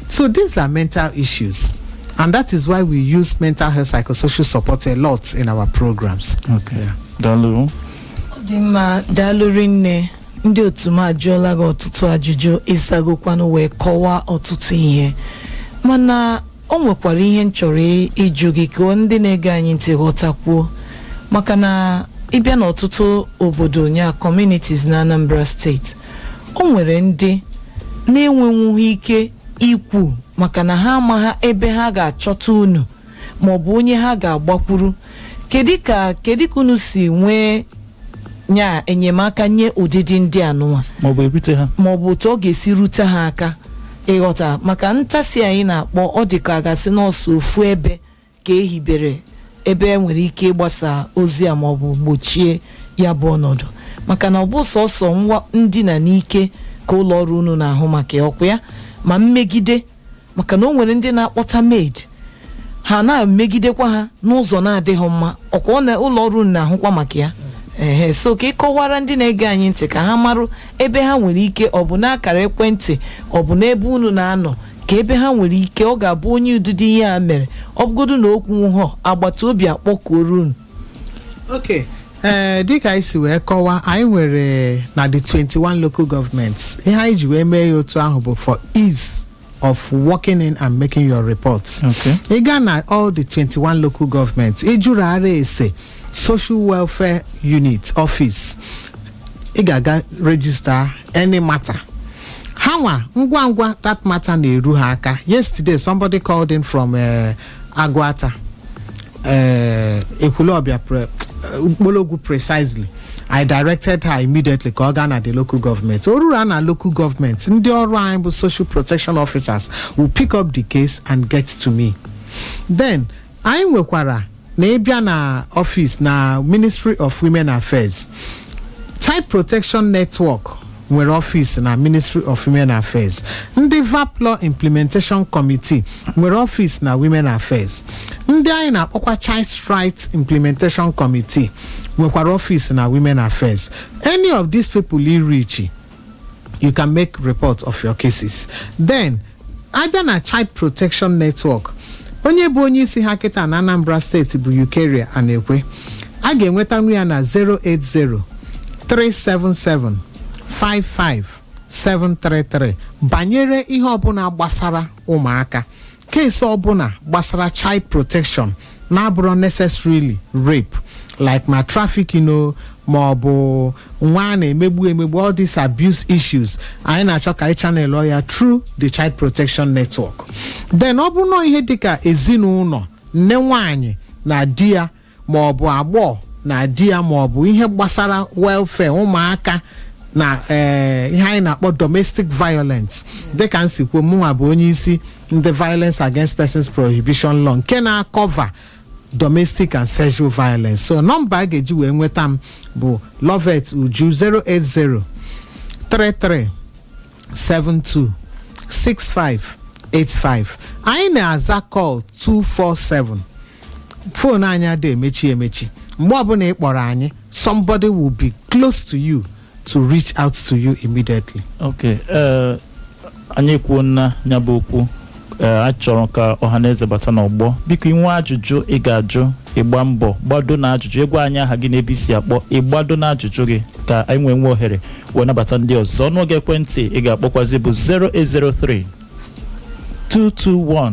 so these are mental issues and that is why we use mental health psychosocial support a lot in our programs Okay. Yeah. Daalụ. Ọ dị mma daalụ rinne ndị otu m ajụọla gị ọtụtụ ajụjụ ị zagokwanụ wee kọwaa ọtụtụ ihe mana o nwekwara ihe m chọrọ ị- ịjụ gị ka ndị na-ege anyị ntị ghọtakwuo maka na ị bịa n'ọtụtụ obodo nya communities na Anambra State o nwere ndị na-enwenwughị ike ikwu maka na ha amaghị ebe ha ga-achọta unu maọbụ onye ha ga-agbakwuru kedu ka kedu ka unu si nwee nya enyemaka nye ụdịdị ndị anụnwa maọbụ erute ha maọbụ otu ọ ga-esi rute ha aka ị ghọta maka Ntasi anyị na-akpọ ọ dị ka a ga-asị n'ọ sọ ofu ebe ka e hibere ebe e nwere ike ịgbasa ozi a maọbụ gbochie ya bụ ọnọdụ maka na ọ bụ sọsọ nwa ndina n'ike ka ụlọ ọrụ unu na-ahụ maka ya, ọkwa ya ma mmegide maka na o nwere ndị na-akpọta maid ha na-emegidekwa ha n'ụzọ na-adịghị mma ọkwa na ụlọ ọrụ unu na-ahụkwa maka ya ehe so ka ị kọwara ndị na-ege anyị ntị ka ha marụ ebe ha nwere ike ọ bụ n'akara ekwentị ọ bụ n'ebe unu na-anọ ka ebe ha nwere ike ọ ga-abụ onye ụdịdị ihe a mere ọ bụgodu na o kwuhọ agbata obi akpọkuoru unu okay ee dịka anyị si wee kọwa anyị nwere na the 21 local governments ihe anyị ji wee mee ya otu ahụ bụ for ease of working in and making your reports Okay. ị gaa na all the 21 local governments ịjụrụ ara ese social welfare unit office ị ga-aga register any matter ha nwa ngwa ngwa that matter na-eru ha aka yesterday somebody called in from uh, agụata eh, ekwulọbịa pre- eh, mkpologwu precisely i directed her immediately ka ọ gaa na the local government o ruru a na local government ndị ọrụ anyị bụ social protection officers will pick up the case and get to me then anyị nwekwara na ị bịa na office na ministry of women affairs child protection network nwere ọfịs na ministry of women affairs ndị vapp law implementation committee nwere ọfịs na women affairs ndị anyị na-akpọkwa child rights implementation committee nwekwara ọfịs na women affairs any of these people i reach you can make report of your cases then a bịa na child protection network onye bụ onye isi ha kịta na anambra steeti bụ eucharia anekwe a ga-enwetanwu ya na 080 377 55733 banyere ihe ọbụna gbasara ụmụaka case ọbụna gbasara child protection na-abụrọ necessarily rape like ma trafficking o ma ọ bụ nwa a na-emegbu emegbu all these abuse issues anyị na-achọ ka anyị channel ya through the child protection network then ọ bụ nọọ ihe dịka ezinụnọ nne nwanyị na di ya ma ọ bụ agbọghọ na di ya ma ọ bụ ihe gbasara welfare ụmụaka na eh, ihe anyị na-akpọ domestic violence dịka m si kwuo mụnwa bụ onye isi ndị violence against persons prohibition law nke na-acover domestic and sexual violence so nọmba a ga-eji wee nweta m bụ lovet uju 080 33 72 65 85 anyị na-aza call 247 phone anyị adịghị emechi emechi mgbe ọbụna ị kpọrọ anyị somebody will be close to you to reach out to you immediately. Okay. Uh, anyị ekwuona ya bụ okwu ee a chọrọ ka ọha na eze bata n'ọgbọ biko i nwee ajụjụ ị ga-ajụ ị gbaa mbọ gbado na ajụjụ ị gwa anyị aha gị na ebe i si akpọ ị gbado na ajụjụ gị ka anyị wee nwee ohere wee nabata ndị ọzọ ọnụọgụ ekwentị ị ga-akpọkwazi bụ 0803 221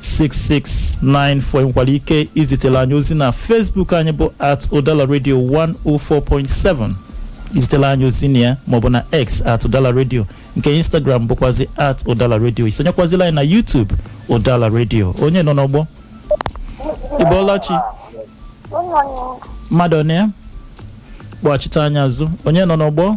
6694 nwekwara ike izitela anyị ozi na Facebook anyị bụ at Udala Radio 104.7 izitela anyị ozi na ya maọbụ na X at Udala Radio nke Instagram bụkwazi at Udala Radio isonyekwazila anyị na YouTube Udala Radio onye nọ n'ọgbọ ịbọọla chi mmadụ ọ na ya kpọghachite anyị azụ onye nọ n'ọgbọ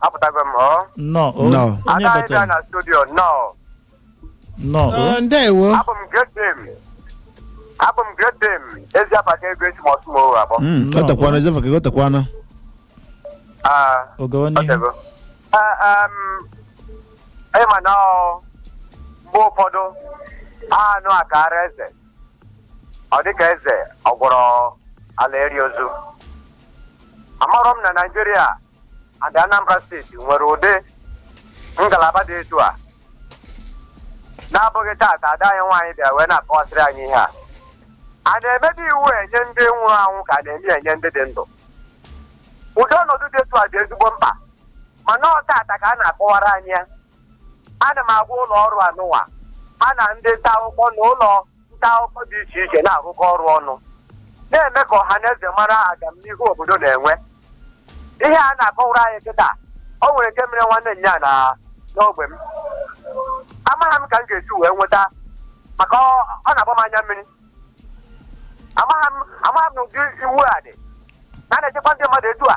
apụtago m ọ Nnọọ. o- Nnọọ. Onye ada anyị bịara na studio nọ Nnọọ. o. Ọ, ndewo abụ m great dame abụ m great dame ezi abaka ego eji m ọsụ m owe abụọ Mm, Nnọọ. ọtakwana ezefa ka ọtakwana Ah, Oge ọ onye. dịgo. Ah, um, ị ma na ọ, mgbe ụfọdụ anụ a ka ara eze ọ dịka eze ọ gwọrọ ala eri ozu amarọ m na naijiria and Anambra steeti nwere ụdị ngalaba dị etu a na-abụghị taata ada anyị nwaanyị bịara wee na-akọwasịrị anyị ihe a a na-emebe iwu enye ndị nwụrụ anwụ ka a na-eme enye ndị dị ndụ ụdị ọnọdụ dị etu a dị ezigbo mkpa mana ọ taata ka a na-akọwara anyị ya ana m agwa ụlọ ọrụ anụwa ha na ndị nta akụkọ na ụlọ nta akụkọ dị iche iche na-arụkọ ọrụ ọnụ na-eme ka ọha na eze mara agamnihu obodo na-enwe ihe a na-akọwara anyị kịta o nwere nke mere nwanne nya na n'ogwe m amaghị m ka m ga-esi wee nweta maka ọ ọ na-agba m anya mmiri amaghị m amaghị m na ụdị iwu a dị na na-echekwa ndị mmadụ etu a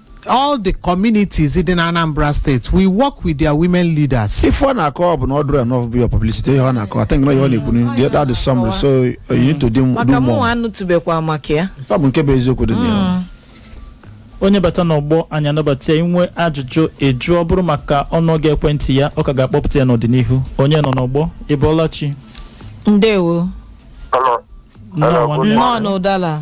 all the communities in Anambra State, we work with their women leaders. If one are called not do enough be your publicity, you are I think no you only couldn't get that the summary, so you need to do, do more. Makamu to be kwa maka ya. Taa bụ nkebe ezo kudu ni ya. onye bata n'ọgbọ anyị anabata i nwee ajụjụ ị jụọ ọ bụrụ maka ọnụọgụ ekwentị ya ọ ka ga-akpọpụta ya n'ọdịnihu onye nọ n'ọgbọ ịbọọla chi ndewo nnọọ n'Udala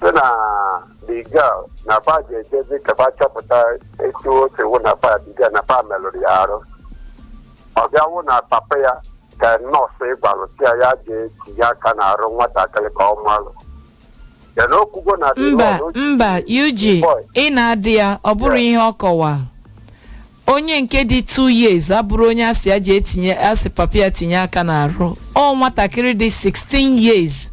sị na the girl na ba ga-ejezi ka ba chọpụta etu o si wụ na ba the girl na ba melụrụ ya arụ ọ bịa wụ na papa ya ka nọọsụ gwalụ sị ya ya ga-etinye aka n'arụ nwatakịrị ka ọ malụ ya na okwugo na the mba Lord o ji- mba ug Boy. ị na-adị ya ọ bụrụ ihe ọ kọwa onye nke dị 2 years abụrụ onye asị ya ji etinye asị papa ya tinye aka n'arụ ọ nwatakịrị dị 16 years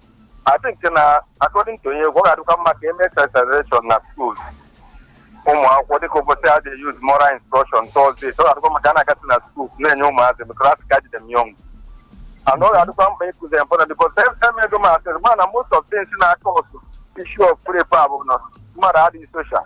I think na according to onye egwu ọ ga-adịkwa mma ka e mee sensitization na school ụmụ akwụkwọ dịka ụbọchị a dị use moral instruction Thursday ọ ga-adịkwa mma ka a na-agasị na school na-enye ụmụazị maka a sị catch them young and ọ ga-adịkwa mkpa ịkụzi mpụta dịka emego m asịrị ma na most of things na-cause issue of rape a bụ na mmadụ adịghị social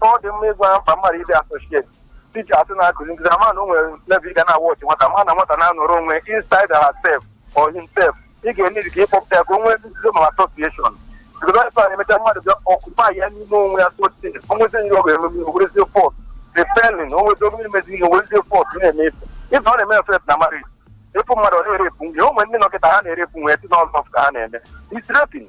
ọ dị mma ịgwa mkpa mmadụ ịdị associate teachers na-akụzi nkụzi ama na o nwere level ị ga na-awọchị nwata ma na nwata na-anọrọ onwe inside herself or himself ị ga-enidi ka ịkpọpụta ya ka o nwee nzuzo ma association because onye sọrọ emecha mmadụ bịa occupy ya n'ime onwe ya sotin onwezi ihe ọ ga-eme o werezie force raping onwezi obere imezi ihe o werezie force na-eme ife ife ọ na-eme effect na marriage ịfụ mmadụ ọ na-erepụ nwunye o nwere ndị nọkịta ha na-erepụ nwunye si n'ọzọ ka ha na-eme is raping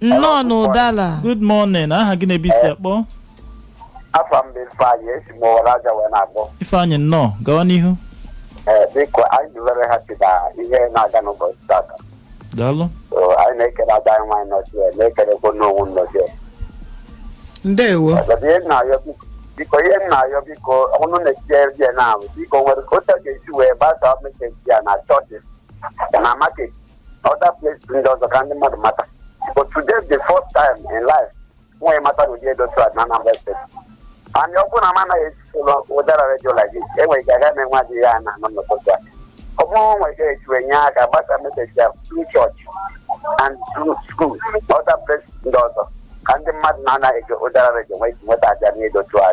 nnọọ na ụdala good morning aha gị na ebe i si akpọ afa m bụ ifeanyị esi m owere aja wee na-akpọ ifeanyị nnọọ gawa n'ihu ee biko anyị dị very happy na ihe na-aga n'ụbọchị tata daalụ So, anyị na-ekele ada anyị nwaanyị nọzi ya na-ekelekwa n'onwu nọzi ya ndewo But ihe m na-ayọ biko- biko ihe m na-ayọ biko unu na-etinye ya na ahụ biko o nwere ka otu a ga-esi wee gbasa message a na church na market other place ndị ọzọ ka ndị mmadụ mata but today the first time in life anyị mata na ụdị ihe dị otu a na Anambra State and ọ bụrụ na m anaghị esi ụlọ ụdara redio like this enwere ike agaghị m enwe adịghị ya na anọ n'ụtụtụ a ọ bụrụ nwere ike ejiwe nye aka gbasa message a through church and through school other place ndị ọzọ ka ndị mmadụ na-anaghị ege ụdara redio nwee ike nweta aja n'ihe dị otu a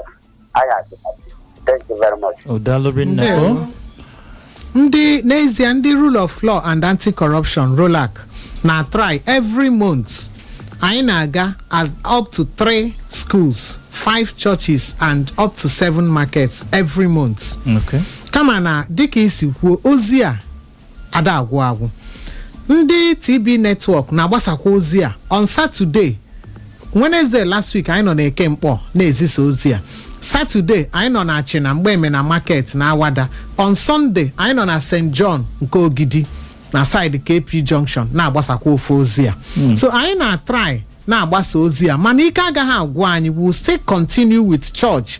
anyị adị thank you very much daalụ rinne Ndewo. o ndị n'ezie ndị rule of law and anti-corruption rolac na-atry every month anyị na-aga at up to three schools five churches and up to seven markets every month okay kama na dịka i si kwuo ozi a ada agwụ agwụ ndị tb network na-agbasakwa ozi a on Saturday Wednesday last week anyị nọ na Eke Nkpọ na-ezisa ozi a Saturday anyị nọ na achịna Mgbemena market na awada on sunday anyị nọ na st john nke ogidi na side kp junction na-agbasakwa ofu ozi a so anyị na-atry na-agbasa ozi a mana ike agaghị agwụ anyị we will still continue with church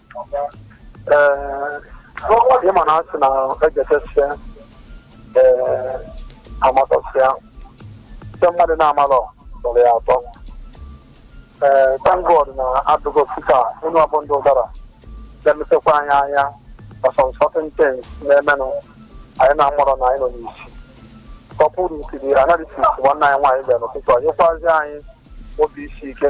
Ee, ịma na asị na ejetesịa ee amatasịa ndị mmadụ na-amalọ tọrọ ya atọ ee thank God na adụgo sika onye ọbụ ndị ụdara na-emepekwa anyị anya ọsọ on certain things na-emenụ anyị na-amarọ na anyị nọ n'isi kọpụrụ ikiri analysis nwanne anyị nwaanyị bịara n'ụtụtụ a nyekwazi anyị obi isi ike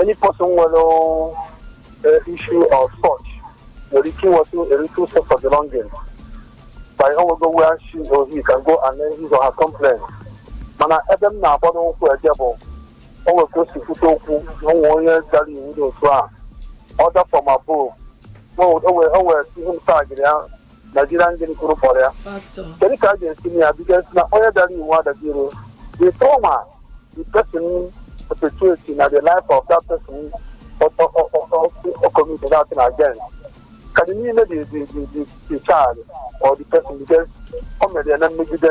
any person nwere eh, issue of such nwere ike inwetụ a little sense of belonging by o nwego where she or he can go and then his or her complaint mana ebe m na-agbado ụkwụ eje bụ o nwere ka o si kwute okwu na o nwee onye dara iwu dị otu a ọ dapụ ma ọ bụ o nwere ihe m tagịrị ya Nigerian gịnị a kwuru kpọrọ ya factor kedu ka a ga-esi nye ya because na onye dara iwu adagiro the trauma the person perpetuate na the life of that person committed that thing again ka dị niile the the the the child or the person because o mere ya na mmegide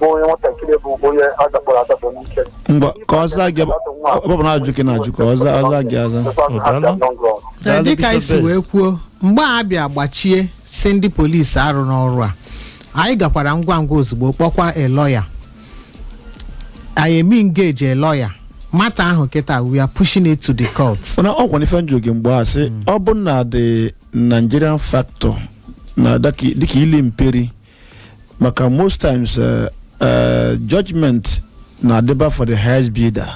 bụ onye nwatakịrị bụ onye a dakpọrọ adakpọ n'ike ngwa ka ọ zaa gị ọ bụ na ajụjụ ị na-ajụ ka ọ zaa ọ zaa gị aza Ee, dịka anyị si wee kwuo mgbe a bịa gbachie si ndị polisi arụ n'ọrụ a anyị gakwara ngwa ngwa ozugbo kpọkwa a lawyer anyị eme engage a lawyer matter ahụ kịta we are pushing it to the court mana ọ gwara ife m jụ gị mgbe a sị ọ bụ na the nigerian factor na dịka ili mperi maka most times eh, eh, judgment na-adịba for the highest bidder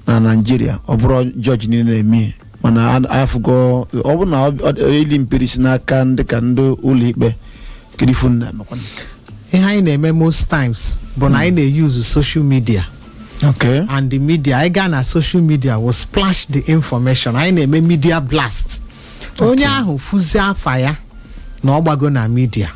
na naijiria ọ bụrọ judge niile na-eme mana a- afụgo ọ bụrụ na ọ- ọ- ili mperi si n'aka ndị ka ndị ụlọ ikpe kedu ife unu na-emekwanụ ihe anyị na-eme most times bụ na anyị na-euse social media okay and the media anyị gaa na social media we splash the information anyị na-eme media blast onye ahụ fụzi afa ya na ọ gbago na media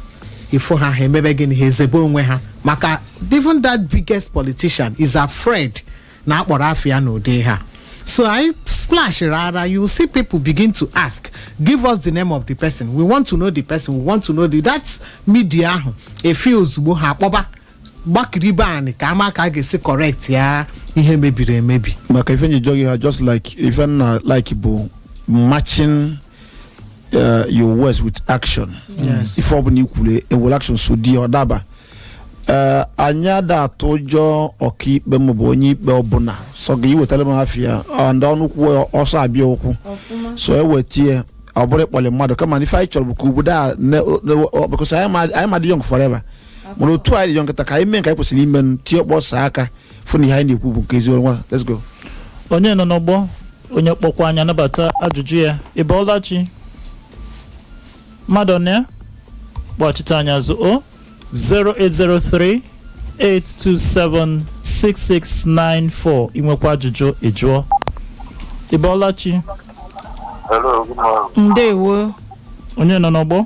ị fụ ha ha emebe gịnị ha ezebe onwe ha maka even that biggest politician is afraid na a kpọrọ afa ya n'ụdị a so anyị splash rara you see people begin to ask give us the name of the person we want to know the person we want to know the that media ahụ efee ozugbo ha akpọba gbakiribe anị ka a ma ka a ga-esi correct ya ihe mebiri emebi maka ife m ji jụọ gị ha just like ife m na-alike bụ matching uh, your words with action Yes. ife ọbụla i kwulu e were action so di ọ daba Eh, anyị ada atụ ụjọ ọkaikpe maọbụ onye ikpe ọbụla sọ gị iwetara m afịa and ọnụ kwuo ya, ọsọ abịa ụkwụ so ewetie ọ bụrọ ịkpọlị mmadụ kama na ife anyị chọrọ bụ ka obodo a ne- ne- ọ- because anyị ma- anyị ma dị young forever mana otu anyị dị kịta ka anyị mee nke anyị kwesịrị ime nụ, tie ọkpọ saa aka fụ na ihe anyị na-ekwu bụ nke eziokwu ngwa let's go onye nọ n'ọgbọ onye kpọkwa anyị anabata ajụjụ ya ị bọọla chi mmadụ na ya kpọchite anyị azụ o 0803 827 6694 i nwekwa ajụjụ ị jụọ ị bọọla chi Hello, good morning. ndewo onye nọ n'ọgbọ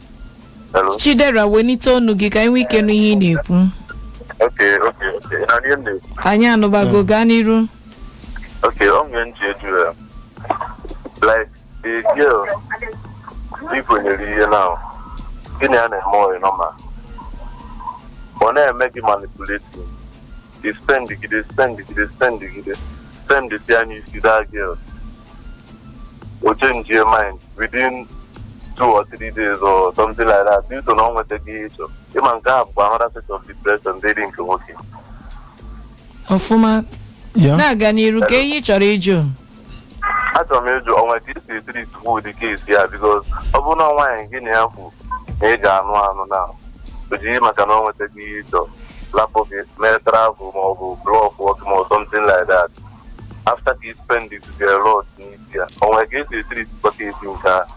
Hello. chidera welite ọnụ gị ka anyị nwee ike nụ ihe ị na-ekwu Okay, okay, okay. Ị na-anụ ihe m na-ekwu? anyị anụbago gaa n'iru Okay, ọ nwere m ji ajụ ya. Like, the girl, ị kwenyere ihe now. Gịnị a na-eme ọ dị normal? Ọ na-eme gị manipulating. Gị spend gide spend gide spend gide spendsịa n'isi that girl o change mind within two or three days or something like that due to na ọ nwetaghị ihe ị chọ ị ma nke a bụkwa another set of depression dịrị nke nwoke ọfụma Yeah. na-aga n'iru kee ihe ị chọrọ ịjụ achọrọ m ịjụ o nwe ka e si etreatikwu ụdị case a because ọ bụrụ na nwaanyị gị na ya kwu na ị ga-anụ anụ na o jii maka na ọ nwetaghị ihe ị chọ lapụ gị mee travel ma ọ bụ blọkụọ gị ma ọ something like that after ka ị spend a lot n'isi ya o nwe ka e si etreatikwu case nke a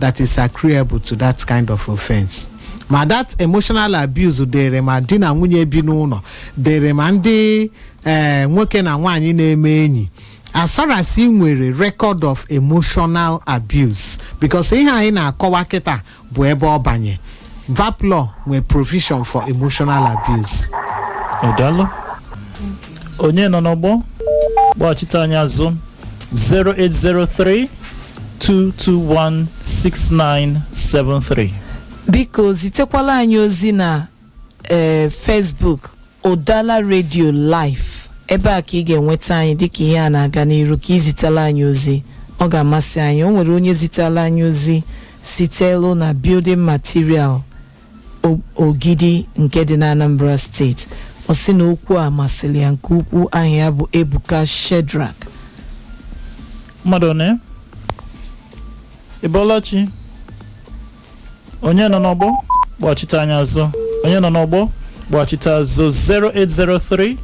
that is agreeable to that kind of offense ma that emotional abuse dịrị ma di na nwunye bi n'ụlọ dịrị ma ndị eh, nwoke na nwaanyị na-eme enyi as far as ị nwere record of emotional abuse because ihe anyị na-akọwa kịta bụ ebe ọ banye VAPP law nwere provision for emotional abuse Odalo? onye nọ n'ọgbọ kpọghachite anyị azụ 08032216973 biko zitekwala anyị ozi na ee facebook ụdala redio live ebe a ka ị ga-enweta anyị dịka ihe a na-aga n'iru ka ị zitela anyị ozi ọ ga-amasị anyị o nwere onye zitela anyị ozi sitelu na building material O- ogidi nke dị n'anambra steeti ọ sị na okwu a masịrị ya nke ukwuu aha ya bụ ebuka shedrak mmadụ one ị bọla chi onye nọ n'ọgbọ kpọchite anyị azụ onye nọ n'ọgbọ kpọchite azụ 0803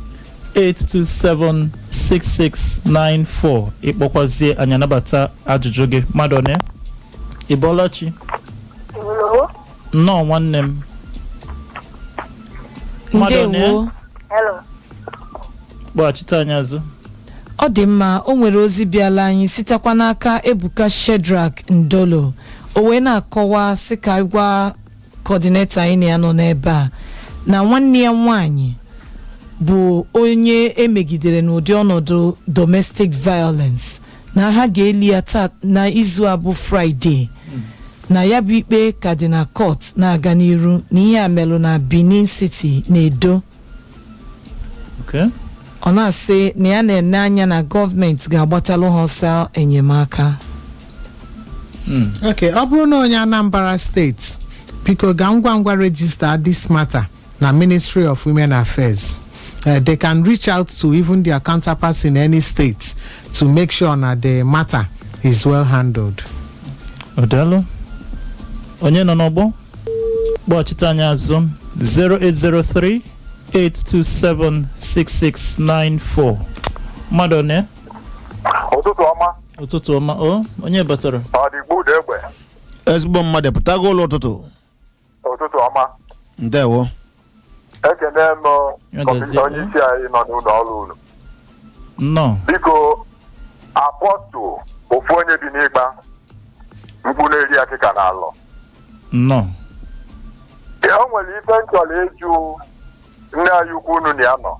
827 6694 ị kpọkwazie anyị anabata ajụjụ gị mmadụ one ị bọla chi nnọọ nwanne m mmadụ one ndewo Hello. kpọghachite anyị azụ ọ dị mma o nwere ozi bịala anyị sitekwa n'aka ebuka shedrak ndolo o wee na-akọwa sị ka anyị gwa kọdinetọ anyị na ya nọ n'ebe a na nwanne ya nwanyị bụ onye e megidere n'ụdị ọnọdụ domestic violence na ha ga-eli ya taa na izu a bụ fraịde na ya bụ ikpe ka dị na kọt na-aga n'iru na ihe a melụ na benin city na edo Okay. ọ na-asị na ya na-ene anya na gọọmenti ga-agbatalụ ha ọsọ enyemaka Mm. ok ọ bụrụ na onye anambra steeti biko ga ngwa ngwa rejista this matter na ministry of women affairs uh, they can reach out to even their counterparts in any state to make sure na the matter is well handled. O daalụ. Onye nọ n'ọgbọ? Kpọchite anyị azụ 0803 827 6694. Mmadụ one? ụtụtụ ọma Ụtụtụ ọma. O, onye batara? ọ dị gbuda egbe ezigbo mmadụ pụtago ụla ụtụtụ ụtụtụ ọma ndewo ekene m Ya kọmiti gazie. onye isi anyị nọ n'ụlọ ọrụ unu nnọọ biko Apostle ofu onye bi n'ikpa mkpu na-eri akịka n'Alor nnọọ o nwere ife m chọrọ ịjụ nne anyị ukwu unu na ya nọ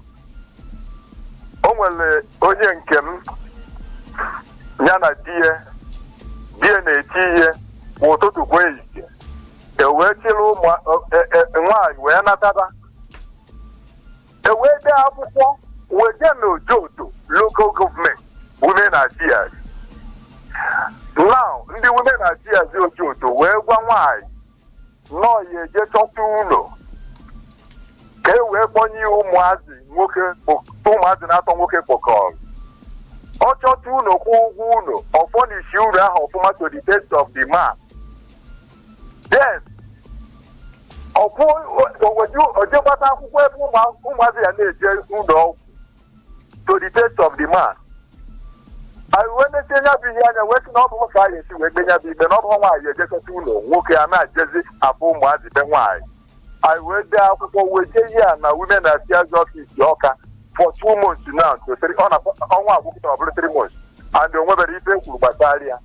o nwere onye nke m ya na di ya di ya na-eti ihe kwa ụtụtụ kwa ehihie e wee chịrị ụmụ e- e- nwaanyị wee nataba e wee dee akwụkwọ wee jee n'Ojoto local government women affairs now ndị women affairs Ojoto wee gwa nwaanyị na ọ ya-eje chọta ụlọ ka e wee kpọnye ya ụmụazị nwoke kpọ- ụmụazị na-atọ nwoke kpọkọrọ ọ chọta ụlọ kwụọ ụgwọ ụlọ o furnish ụlọ ahụ ọfụma to the taste of the man then ọ kwụ- o jee gbata akwụkwọ ebe ụmụ- ụmụazị ya na-eje ụlọ ọgwụ to the taste of the man anyị wee nesie nya bụ ihe anya wee sị na ọ bụhọ ka a ya-esi wee kpe nya bụ ikpe na ọ bụhọ nwaanyị eje chọta ụlọ nwoke a na-ejezi afụ ụmụazị be nwaanyị anyị wee dee akwụkwọ wee jee ihe a na women affairs office Awka for two months now to three ọ na ọnwa a gwụ kịta ọ bụrụ three months and o nwebere ife e kwuru gbasara ya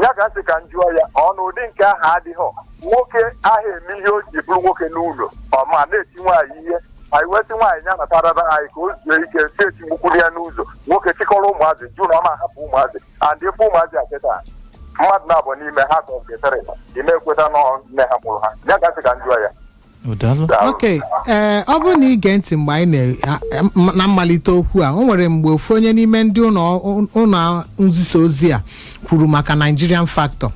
ya ka sị ka m jụọ ya ọ na ụdị nke ahụ adịghị nwoke ahụ eme ihe o ji bụrụ nwoke n'ụlọ ọ ma na-eti nwaanyị ihe anyị wee sị nwaanyị ya natarara anyị ka o zuo ike si etigbukwuru ya n'ụzọ nwoke chịkọrọ ụmụazị jụ na ọ ma ahapụ ụmụazị and ebe ụmụazị a kịta mmadụ naabọ n'ime ha ka ọ ga-etere ị ma-ekweta na ọ nne ha mụrụ ha ya ka sị ka m jụọ ya O daalụ. ok ee ọ bụrụ na i gee ntị mgbe anyị na- a- a- na mmalite okwu a o nwere mgbe ofu onye n'ime ndị ụlọ ụlọ nzisa ozi a kwuru maka Nigerian factor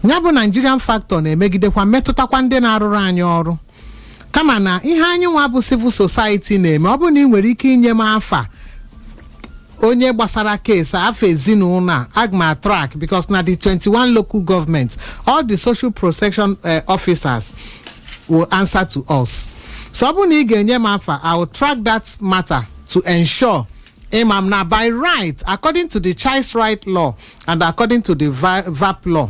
ya bụ Nigerian factor na-emegidekwa metụtakwa ndị na-arụrụ anyị ọrụ kama na ihe anyị nwa bụ civil society na-eme ọ bụrụ na ị nwere ike inye m afa onye gbasara case afa ezinụlọ a aga m a-track because na the 21 local government all the social protection eh, officers will answer to us so ọ bụrụ na ị ga-enye m afa i will track that matter to ensure ịma m na by right according to the child's right law and according to the Va- VAPP law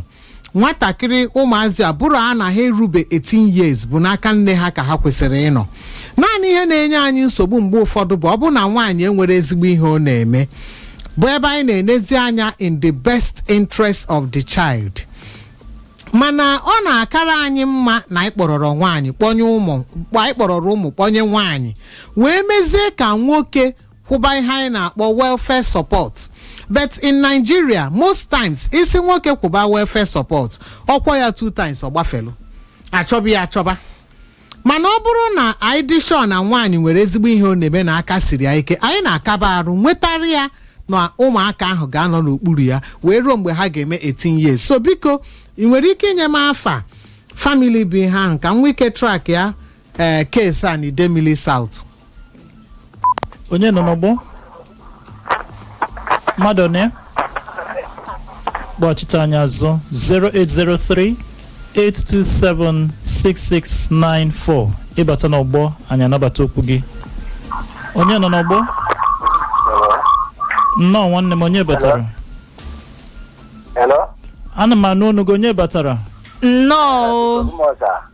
nwatakịrị ụmụazị ọ bụrụ na ha erube 18 years bụ n'aka nne ha ka ha kwesịrị ịnọ naanị ihe na-enye anyị nsogbu mgbe ụfọdụ bụ ọ bụrụ na nwaanyị enwere ezigbo ihe ọ na-eme bụ ebe anyị na-enezi anya in the best interest of the child mana ọ na-akara anyị mma na anyị kpọrọrọ nwaanyị kpọnye ụmụ anyị kpọrọrọ ụmụ kpọnye nwaanyị wee mezie ka nwoke kwụba ihe anyị na-akpọ welfare support but in nigeria most times ị sị nwoke kwụba welfare support ọ kwụọ ya two times ọ gbafelu a chọba ya achọba mana ọ bụrụ na anyị dị sure na nwaanyị nwere ezigbo ihe ọ na-eme na aka siri ya ike anyị na-akaba arụ nwetara ya na ụmụaka ahụ ga-anọ n'okpuru ya wee ruo mgbe ha ga-eme 18 years so biko ị nwere ike inye m afa family bụ ihe ahụ ka m nwee ike track ya ee case a na idemili south onye nọ n'ọgbọ mmadụ one kpọchite anyị azụ 0803 827 6694 ị bata n'ọgbọ anyị anabata okwu gị onye nọ n'ọgbọ nnọọ nwanne m onye batara Hello? ana m anụ ọnụ gị onye batara nnọọ o. Ụmụọza.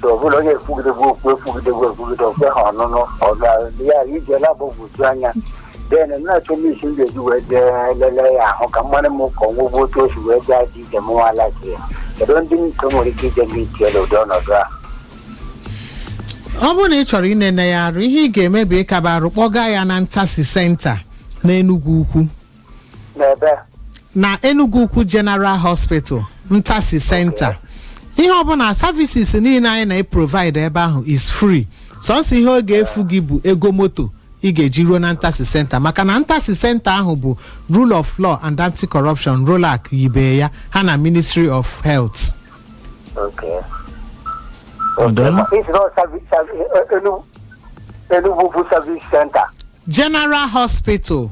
so ọ bụla onye ekwugidegwu okwu ekwugidegwu ekwugide o kwe ha ọnụnụ ọ ga ya ije lab gbuju anya then na-achọ m isi m ga-eji wee jee lelee ya ahụ ka mmadụ m ka ọnwụgwụ otu o si wee jee aja ije m nwa alaji ya kedu ndị m ka nwere ike ije m itie n'ụdị ọnọdụ a ọ bụrụ na ị chọrọ inene ya arụ ihe ị ga-eme bụ ịkaba arụ kpọga ya na ntasi center n'enugwu ukwu n'ebe na enugwu ukwu general hospital ntasi center ihe ọbụla services niile anyị na-eprovide ebe ahụ is free sọsọ ihe ọ ga-efu gị bụ ego moto ị ga-eji ruo na ntasi center maka na ntasi center ahụ bụ rule of law and anti-corruption rolac yibe ya ha na ministry of health okay. Ọdụm? Ma ị sị na ọ savi- savi- e- Enugu- Enugu bụ service center general hospital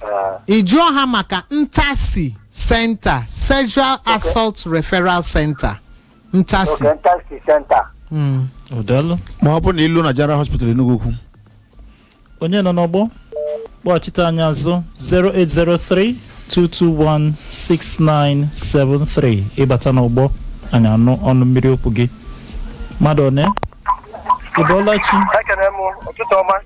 Ah, ị jụọ ha maka ntasi center sexual assault referral center ntasi okay ntasi center Mm. daalụ ma ọ bụrụ na i lu na general hospital Enugwu ukwu onye nọ n'ọgbọ kpọchite anyị azụ 08032216973 ị bata n'ọgbọ anyị anụ ọnụ mmiri okwu gị mmadụ one ị bọọla chi ekene m ụtụtụ ọma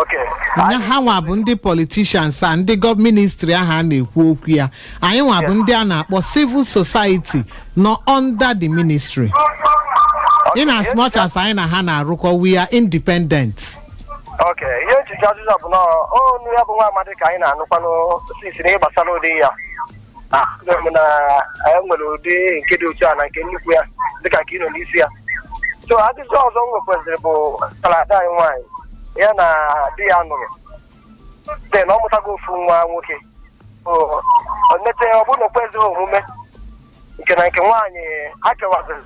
Okay. nya ha nwa bụ ndị politicians a ndị gov ministry ahụ a na-ekwu okwu ya anyị nwa bụ ndị a na-akpọ civil society nọ under the ministry in as much as anyị na ha na-arụkọ we are independent Okay. Ihe echiche azụzụ bụ na ọ nụ ya bụ nwa amadi ka anyị na-anụkwanụ sisi n'ihe gbasara ụdị ya. ahụrụ m na anyị nwere ụdị nke dị otu a na nke nnukwu ya dịka nke ị nọ n'isi ya so ajụjụ ọzọ m nwekwaziri bụ ka ada anyị nwaanyị ya na di ya nụrụ de na ọ mụtago ofu nwa nwoke O- o mete ọ bụrụ na o kwezighị omume nke na nke nwaanyị ha kewaziri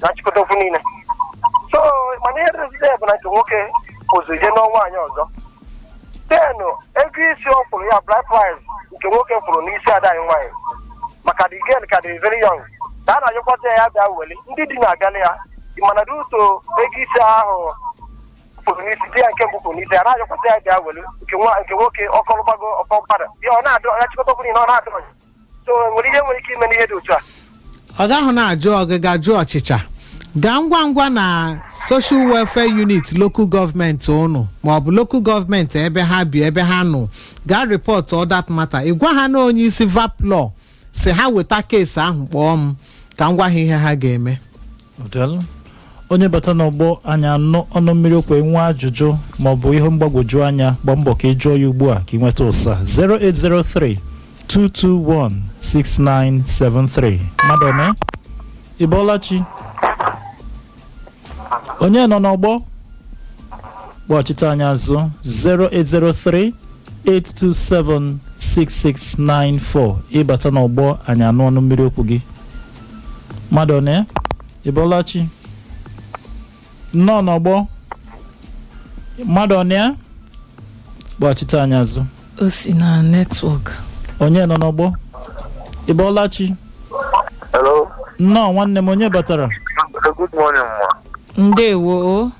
na nchịkọta okwu niile so mana ihe dịzide bụ na nke nwoke pụzị jee nụọ nwaanyị ọzọ ten ego isi ọ kwụrụ ya bride price nke nwoke kwụrụ n'isi ada anyị nwaanyị maka the girl ka dị very young ka a na-ayọkwazi ya bịa weli ndị di na-abịala ya ị ma na due to ego isi ahụ kwụrụ n'isi di ya nke mbụ kwụrụ n'isi ya a na-ayọkwazi ya bịa weli nke nwa- nke nwoke ọkọlụgbago ọkọ mkpara ya ọ na-adị ya chịkọta ọbụla na ọ na-adị ọnya so nwere ihe nwere ike ime n'ihe dị otu a ọ gaghị na-ajụ ọgịga jụọ ọchịcha gaa ngwa ngwa na social welfare unit local gọọmenti unu maọbụ local gọọmenti ebe ha bi ebe ha nọ gaa reportụọ that matter ị gwa ha na onye isi VAPP law sị ha weta keesi ahụ kpọọ m ka m gwa ha ihe ha ga-eme Odelu, onye bata n'ọgbọ anyị anụ ọnụ mmiri okwu i nwee ajụjụ maọbụ ihe mgbagwoju anya gba mbọ ka ị jụọ ya ugbu a ka ị nweta ụsa 0803 221 6973 mmadụ ome ị bọọla chi onye nọ n'ọgbọ kpọchite anyị azụ 0803 827 6694 ị bata n'ọgbọ anyị anụ ọnụ mmiri okwu gị mmadụ one ị bọọla chi nnọọ n'ọgbọ mmadụ one ya gbachite anyị azụ o si na netwọk onye nọ n'ọgbọ ị bọọla chi Hello. nnọọ nwanne m onye batara Good morning, ma. ndewo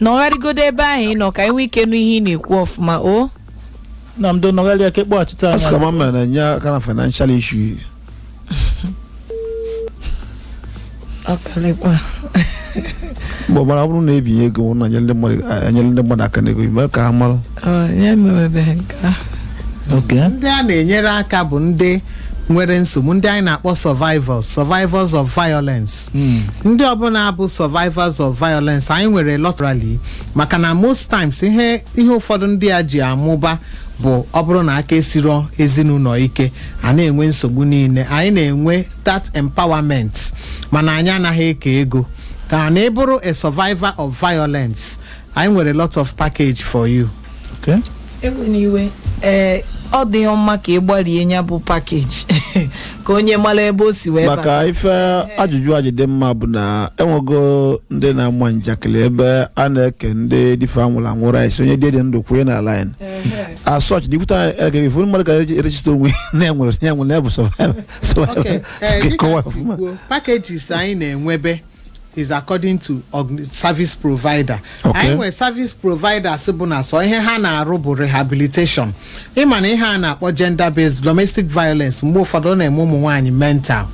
nọgharịgodo ebe ahụ ị nọ ka anyị nwee ike nụ ihe ị na-ekwu ọfụma o ndo nọgharịa ka ị kpọghachite anyị asị ka azụ. ma m na-enye aka na financial issue ọkalịkwa mgbe ọbara ọ bụrụ na e binye ego ọ bụrụ na e nyere ndị mmadụ enyere ndị mmadụ aka n'ego ime ka ha mara ya mewebeghị nke ahụ ok ndị a na-enyere aka bụ ndị nwere nsogbu ndị anyị na-akpọ survivors survivors of violence ndị ọbụla bụ survivors of violence anyị nwere lọtrali maka na most times ihe ihe ụfọdụ ndị a ji amụba bụ ọ bụrụ na aka esiro ezinụlọ ike a na-enwe nsogbu niile anyị na-enwe that empowerment mana anyị anaghị eke ego ka na ị bụrụ a survivor of violence anyị nwere lot of package for you Okay. ewena iwe ee ọ dị mma ka ị gbarie ya bụ package ka onye mara ebe o si wee bata maka ife ajụjụ a ji dị mma bụ na enwego ndị na-ama njakịrị ebe a na-eke ndị di fa nwụrụ anwụ rice onye di dị ndụ kwụnye na line asọch dikwuta ege ifu mmadụ ka e register onwe ya na enwere ya nwere ya bụ survivor Okay, survivor eh, dịka kọwasị ọfụma kwuo, packages anyị na-enwebe is according to org- service provider Okay. anyị nwere service providers bụ na sọ ihe ha na-arụ bụ rehabilitation ị ma na ihe a na-akpọ gender based domestic violence mgbe ụfọdụ ọ na-eme ụmụ nwaanyị mental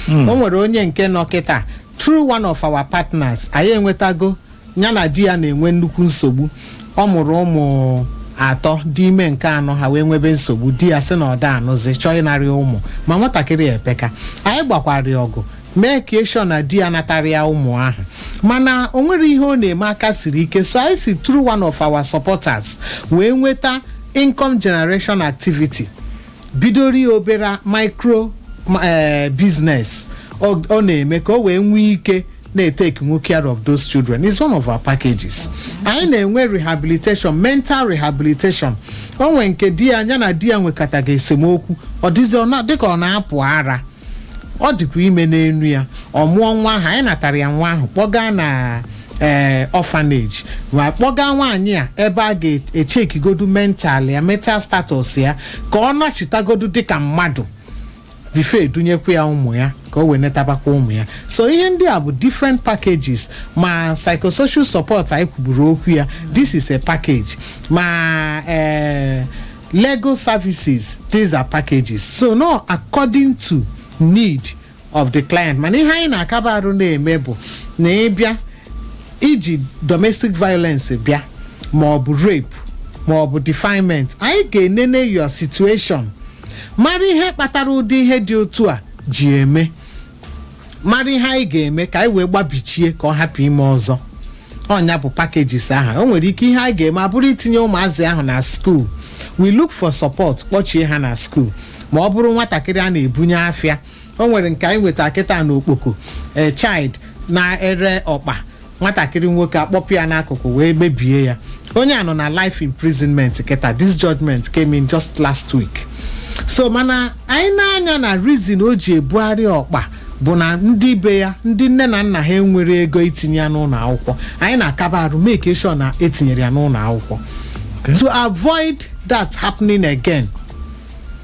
o nwere onye nke nọ kịta through one of our partners anyị enwetago ya na di ya na-enwe nnukwu nsogbu ọ mụrụ ụmụ atọ dị ime nke anọ ha wee nwebe nsogbu di ya sị na ọ da-anụzi chọọ ịnara ya ụmụ ma nwatakịrị ya epeka anyị gbakwara ya ọgụ make sure na di ya anatarọ ya ụmụ ahụ mana o nwerọ ihe ọ na-eme aka siri ike so anyị si through one of our supporters wee nweta income generation activity bidoro ya obere micro ma- eh, business ọ ọ na-eme ka o wee nwee ike na-etake nwu care of those children is one of our packages anyị na-enwe rehabilitation mental rehabilitation o nwee nke di ya nya na di ya nwekataga esemokwu ọ dịzi ọ na- dịka ọ na-apụ ara ọ dịkwu ime n'enu ya ọ mụọ nwa ahụ anyị natara ya nwa ahụ kpọga na ee orphanage ma kpọga nwaanyị a ebe a ga-echekigodu mental ya mental status ya ka ọ nachitagodu dịka mmadụ before e dunyekwa ya ụmụ ya ka o wee netabakwa ụmụ ya so ihe ndị a bụ different packages ma psychosocial support anyị kwuburu okwu ya this is a package ma ee legal services these are packages so no according to need of the client mana ihe anyị na-akaba arụ na-eme bụ na ị bịa i ji domestic violence bịa ma ọ bụ rape ma ọ bụ defilement anyị ga-enene your situation mara ihe kpatara ụdị ihe dị otu a ji eme mara ihe anyị ga-eme ka anyị wee gbabichie ka ọ hapụ ime ọzọ ọ nya bụ packages ahụ o nwere ike ihe anyị ga-eme abụrụ itinye ụmụazị ahụ na school we look for support kpọchie ha na school ma ọ bụrụ nwatakịrị a na-ebunye afịa o nwere nke anyị nweta kịta na Okpoko a child na-ere ọkpa nwatakịrị nwoke akpọpụ ya n'akụkụ wee mebie ya onye a nọ na life imprisonment kịta this judgment came in just last week so mana anyị na-anya na reason o ji ebugharị ọkpa bụ na ndị be ya ndị nne na nna ha enwerọ ego itinye ya n'ụlọ akwụkwọ anyị na-akaba arụ make sure na e tinyere ya n'ụlọ akwụkwọ to avoid that happening again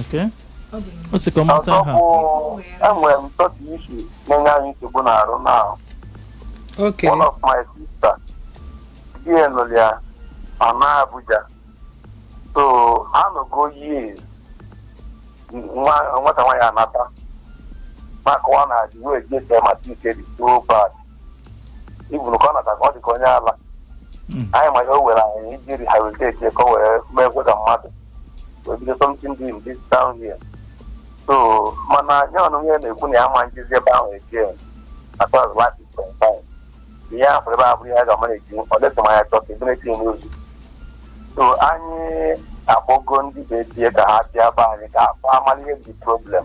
Okay. Ọ dị mma. What's the common ọzọ time? bụ enwere m some issue na-enye anyị nsogbu n'arụ na Okay. one of my sister di ya nụrụ ya ma na Abuja so anọgo years nwa- nwata nwaanyị anata maka ọ na-adị wee jesi mata ike dị so bad even ka ọ nata ka ọ dị ka onye ala Mm. anyị ma ihe o were anyị iji rehabilitate ya ka o wee mee ekwe ka mmadụ wee bido something doing this down here so mana nye ọnụ ihe na-ekwu na ya ma njizi ebe ahụ eji atọ azụ lati kwentai ihe ahụ ebe ahụ bụ ihe a ga-ama na-eji ọ dịtụ ma ya chọọ ka ebere tinye n'ozu so anyị akpọgo ndị be di ya ka ha bịa be anyị ka a kpaa malụ ihe dị problem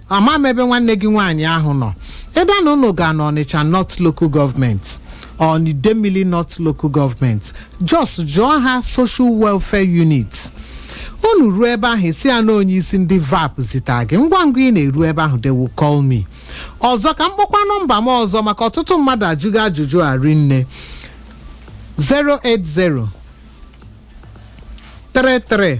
ama m ebe nwanne gị nwaanyị ahụ nọ either na unu ga na Ọnịcha North local government or n'Idemili North local government just jụọ ha social welfare unit unu ruo ebe ahụ ị sị ya na onye isi ndị VAPP zita gị ngwa ngwa ị na-eru ebe ahụ they will call me ọzọ ka m kpọkwa nọmba m ọzọ maka ọtụtụ mmadụ ajụgo ajụjụ a rinne 080 33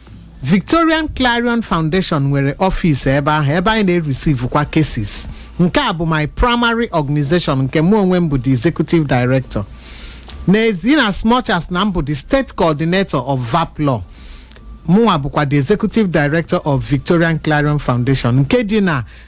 Victorian Clarion Foundation nwere office ebe ahụ ebe anyị na-erisivu kwa cases nke a bụ my primary organization nke mụ onwe m bụ the executive director n'ezi in as much as na m bụ the state coordinator of VAPP law mụnwa bụkwa the executive director of Victorian Clarion Foundation nke dị na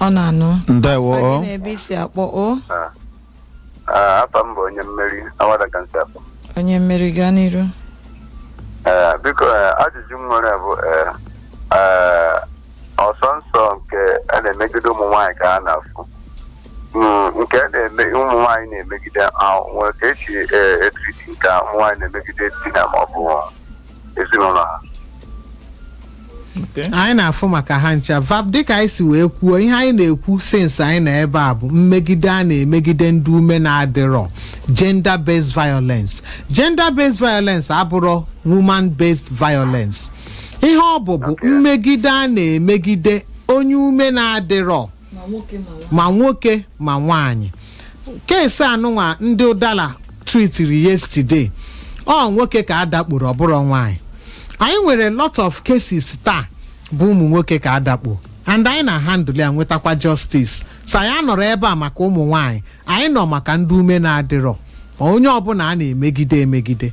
ọ na-anụ ndewo Afa gị o na ebe i si akpọ o Ah, afa m bụ onye mmeri Awada ka m si akpọ onye mmeri gaa n'iru Eh, biko eh, ajụjụ m nwere bụ eh, eh, ọ sọsọ nke a na-emegide ụmụ nwaanyị ka a na-afụ Mm, nke a na-eme ụmụ nwaanyị na-emegide ah, nwere ka e si eh, etriti nke a ụmụ nwaanyị na-emegide di ha ma ọ bụ ezinụlọ ha Okay. anyị na-afụ maka ha ncha VAPP dịka anyị si wee kwuo ihe anyị na-ekwu since anyị nọ ebe a bụ mmegide a na-emegide ndị ume na-adịrọ gender based violence gender based violence abụrọ woman based violence ihe ọ bụ bụ mmegide a na-emegide onye ume na-adịrọ ma nwoke ma nwaanyị ma nwoke ma nwaanyị case a nụnwa ndị ụdala tritiri yesterday ọ nwoke ka a dakporo ọ bụrọ nwaanyị anyị nwere lot of cases taa bụ ụmụ nwoke ka a dakpo and anyị na handle ya nwetakwa justice so anyị anọrọ ebe a maka ụmụ nwaanyị anyị nọ maka ndị ume na-adịrọ ma onye ọbụla a na-emegide emegide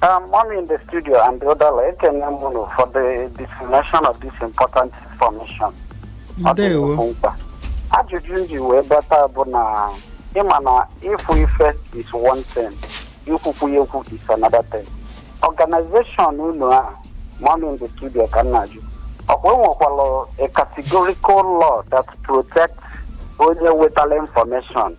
Um, I'm in the studio and the other ekene m unu for the dissemination of this important information. Ọ dị nnọọ nnukwu mkpa. Ajụjụ m ji wee bata bụ na ịma na ịfụ ife is one thing, ikwukwu ya ekwu is another thing. Organization unu a, mọmi in the studio ka m na-ajụ. Ọkwa enwekwala a categorical law that protects onye wetara information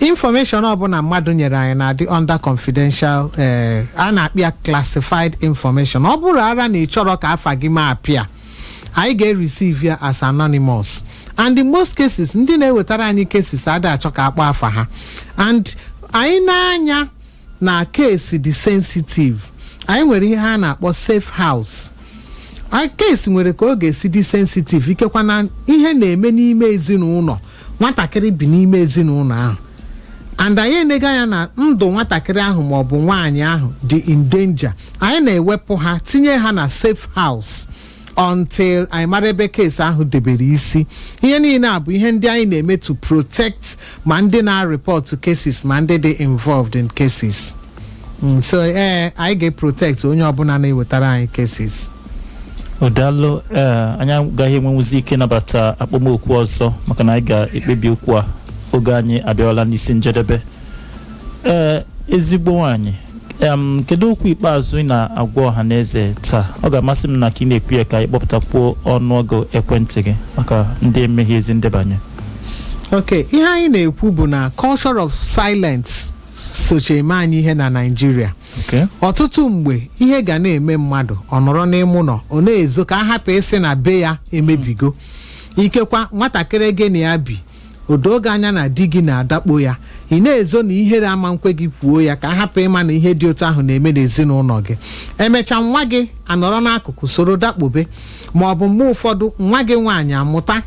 information ọbụla mmadụ nyere anyị na-adị under confidential eh, a na-keep ya classified information ọ bụrụ ara na ị chọrọ ka afa gị ma appear anyị ga-receive ya as anonymous and in most cases ndị na-ewetara anyị cases a da-achọ ka a kpọọ afa ha and anyị na-anya na keesi dị sensitive anyị nwere ihe a na-akpọ safe house a keesi nwere ka ọ ga-esi dị sensitive ikekwa na ihe na-eme n'ime ezinụlọ nwatakịrị bi n'ime ezinụlọ ahụ and anyị enego anya na ndụ nwatakịrị ahụ ma ọ bụ nwaanyị ahụ dị in danger anyị na-ewepụ ha tinye ha na safe house until anyị mara ebe keesi ahụ debere isi ihe niile a bụ ihe ndị anyị na-eme to protect ma ndị na-report cases ma ndị dị involved in cases Mm, so ee anyị ga-protect onye ọbụla na-ewetara anyị cases daalụ ee anyị agaghị enwenwuzi ike nabata akpọmoku ọzọ maka na anyị ga-ekpebi okwu a oge anyị abịawala n'isi njedebe ee ezigbo nwanyị m kedu okwu ikpeazụ ị na-agwa ọha na eze taa ọ ga-amasị m na ka ị na-ekwu ya ka ị kpọpụtakwuo ọnụọgụ ekwentị gị maka ndị emeghị ezi ndebanye ok ihe anyị na-ekwu bụ na culture of silence socha eme anyị ihe na naijiria okay ọtụtụ mgbe ihe ga na-eme mmadụ ọ nọrọ n'ime ụlọ ọ na-ezo ka a hapụ ịsị na be ya emebigo ikekwa nwatakịrị gị na ya bi o doo gị anya na di gị na-adakpo ya ị na-ezo na ihere ama nkwe gị kwuo ya ka a hapụ ịma na ihe dị otu ahụ na-eme n'ezinụlọ gị emecha nwa gị anọrọ n'akụkụ soro dakpobe ma ọ bụ mgbe ụfọdụ nwa gị nwaanyị amụta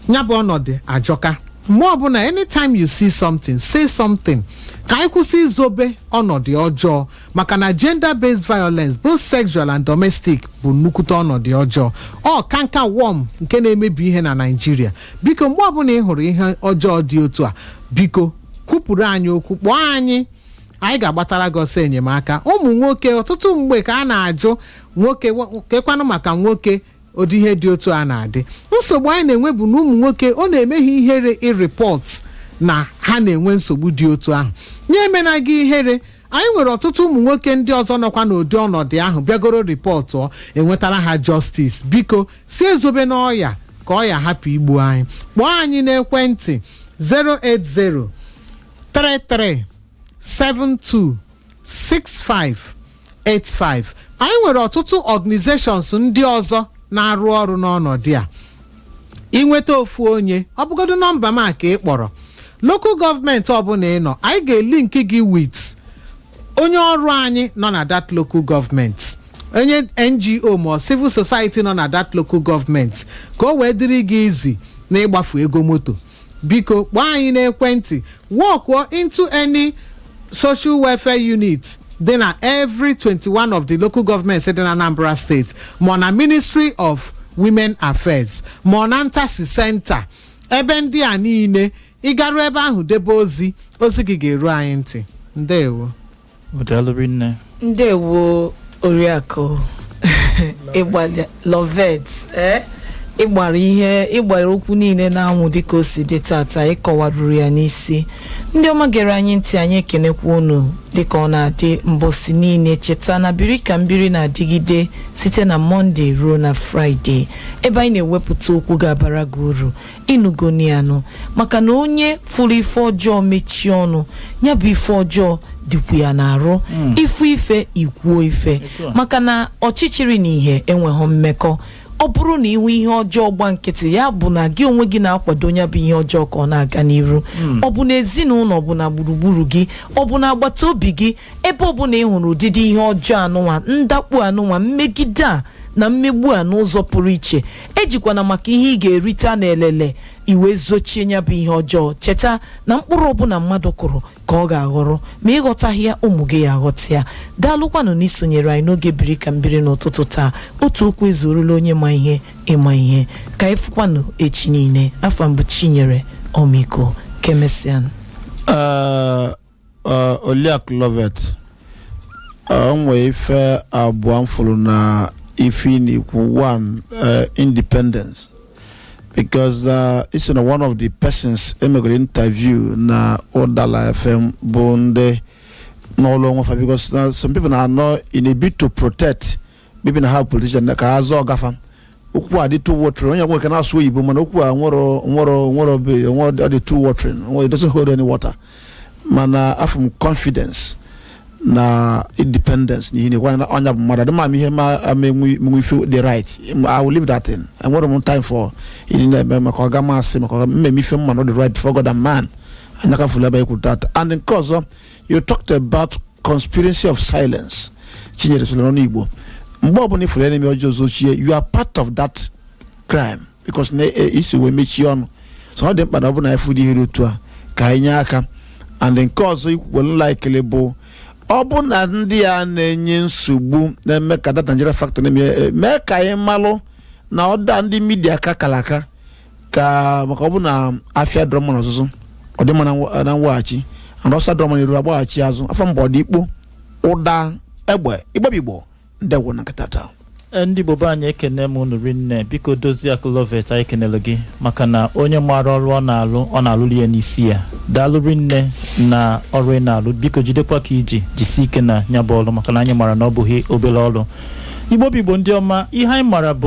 ya bụ ọnọdụ ajọka mgbe ọbụla anytime you see something say something ka anyị kwụsị izobe ọnọdụ ọjọọ maka na gender based violence both sexual and domestic bụ nnukwute ọnọdụ ọjọọ ọ cankerworm nke na-emebi ihe na naijiria biko mgbe ọbụla ị hụrụ ihe ọjọọ dị otu a biko kwupụrụ anyị okwu kpọọ anyị anyị ga-agbatara gị ọsọ enyemaka ụmụ nwoke ọtụtụ mgbe ka a na-ajụ nwoke kekwanụ maka nwoke ụdị ihe dị otu a na-adị nsogbu anyị na-enwe bụ na ụmụ nwoke ọ na-eme ha ihere ịrịpọt na ha na-enwe nsogbu dị otu ahụ nya emena gị ihere anyị nwere ọtụtụ ụmụ nwoke ndị ọzọ nọkwa n'ụdị ọnọdụ ahụ bịagoro rịpọtụ e nwetara ha jọstis biko si ezobena ọya ka ọya hapụ igbu anyị kpọọ anyị n'ekwentị 080 33 72 6585 anyị nwere ọtụtụ organizations ndị ọzọ na-arụ ọrụ n'ọnọdụ a inweta ofu onye ọ bụgodo nọmba m a ka ị kpọrọ local government ọbụla ị nọ anyị ga-elink gị with onye ọrụ anyị nọ na that local government onye ngo ma ọ civil society nọ na that local government ka o wee dịrị gị easy na ịgbafu ego moto biko kpọọ anyị n'ekwentị walkụọ into any social welfare unit dị na every 21 of the local governments dị na anambra steeti ma ọ na ministry of women affairs ma ọ na ntasi center ebe ndị a niile ị garu ebe ahụ debe ozi ozi gị ga-eru anyị ntị ndewo Daalụ rinne. ndewo oriakụ ịgbalị lovet eh? ị gbara ihe ị gbara okwu niile n'anwụ dịka o si dị tata ị kọwaruru ya n'isi ndị ọma gere anyị ntị anyị ekenekwa unu dịka ọ na-adị mbọsi niile cheta na biri ka m biri na-adịgide site na mọnde ruo na fraịde ebe anyị na-ewepụta okwu ga-abara gị uru ị nụgonụ ya nụ maka na onye fụlụ ife ọjọọ mechie ọnụ ya bụ ife ọjọọ dịkwu ya n'arụ ị fụ ife i kwuo ife maka na ọchịchịrị na ihe enweghị mmekọ ọ bụrụ na ị hụ ihe ọjọọ gba nkịtị ya bụ na gị onwe gị na-akwado ya bụ ihe ọjọọ ka ọ na-aga n'iru ọ bụ na ezinụlọ ọ bụ na gburugburu gị ọ bụ na agbata obi gị ebe ọ bụla ị hụrụ ụdịdị ihe ọjọọ anụnwa ndakpu anụnwa mmegide a na mmegbu a n'ụzọ pụrụ iche ejikwana maka ihe ị ga-erita n'elele i wee zochie ya bụ ihe ọjọọ cheta na mkpụrụ ọbụla mmadụ kụrụ ka ọ ga-aghọrọ ma ị ghọtaghị ya ụmụ gị ya aghọta ya daalụkwanụ na i sonyere anyị n'oge biri ka m biri n'ụtụtụ taa otu okwu ezuorola onye ma ihe ịma ihe ka anyị fụkwanụ echi niile afa m bụ chinyere ọmịiko ka emesịanụ Ee, Oliakụ Lovet ee, o nwee ife abụọ m fụrụ na ife ị na-ekwu one ee, independence because uh, ị sị na one of the persons e megoro interview na ụdala fm bụ ndị nọlụ onwe fa because na some people na-anọ in a bid to protect maybe na ha politician na ka ha zọọ gafa okwu a dị too watery onye nwoke na-asụ oyibo mana okwu a nwere nwere nwere be nwere ọ dị too watery nwere it doesn't hold any water mana afụ m confidence na independence na ihe na ekwe na ọnya bụ mmadụ adịma m ihe ma ama enwe enwe ife dị right I will leave that thing enwere m time for ịdị na-eme maka ọga m sị maka ọga m na-eme ife m ma na ọ dị right before God and man anyaka fụlụ ebe ekwu tata and nke ọzọ you talked about conspiracy of silence chinyere soro n'ọnụ igbo mgbe ọbụla ị fụrụ ya na-eme ọjọọ zochie you are part of that crime because na e- i si wee mechie ọnụ so ọ dị mkpa na ọ bụ na anyị fụ ụdị ihe dị otu a ka anyị nye aka and nke ọzọ i kwukwelụ la ekele bụ ọ bụ na ndị a na-enye nsogbu na-eme ka that Nigeria factor na-eme eh, mee ka anyị malụ na ọda ndị media ka kara aka ka maka ọ bụ na afịa adịrọ mma n'ọzụzụ ọ dị mma na mwa- na mweghachi and ọsọ adịrọ mma n'iru a gbaghachi azụ afọ mba ọ dị ikpo ụda egbe Igbo bụ Igbo ndeewo na nkata taa Ee, ndị Igbo be anyị ekene m unu rinne biko dozie akụlovet anyị kenere gị maka na onye maara ọrụ ọ na-alụ ọ na-alụrụ ya n'isi ya daalụ rinne na ọrụ ị na-alụ biko jidekwa ka i ji jisie ike na ya bụ ọrụ maka na anyị maara na ọ bụghị obere ọrụ Igbo bụ Igbo ndị ọma ihe anyị maara bụ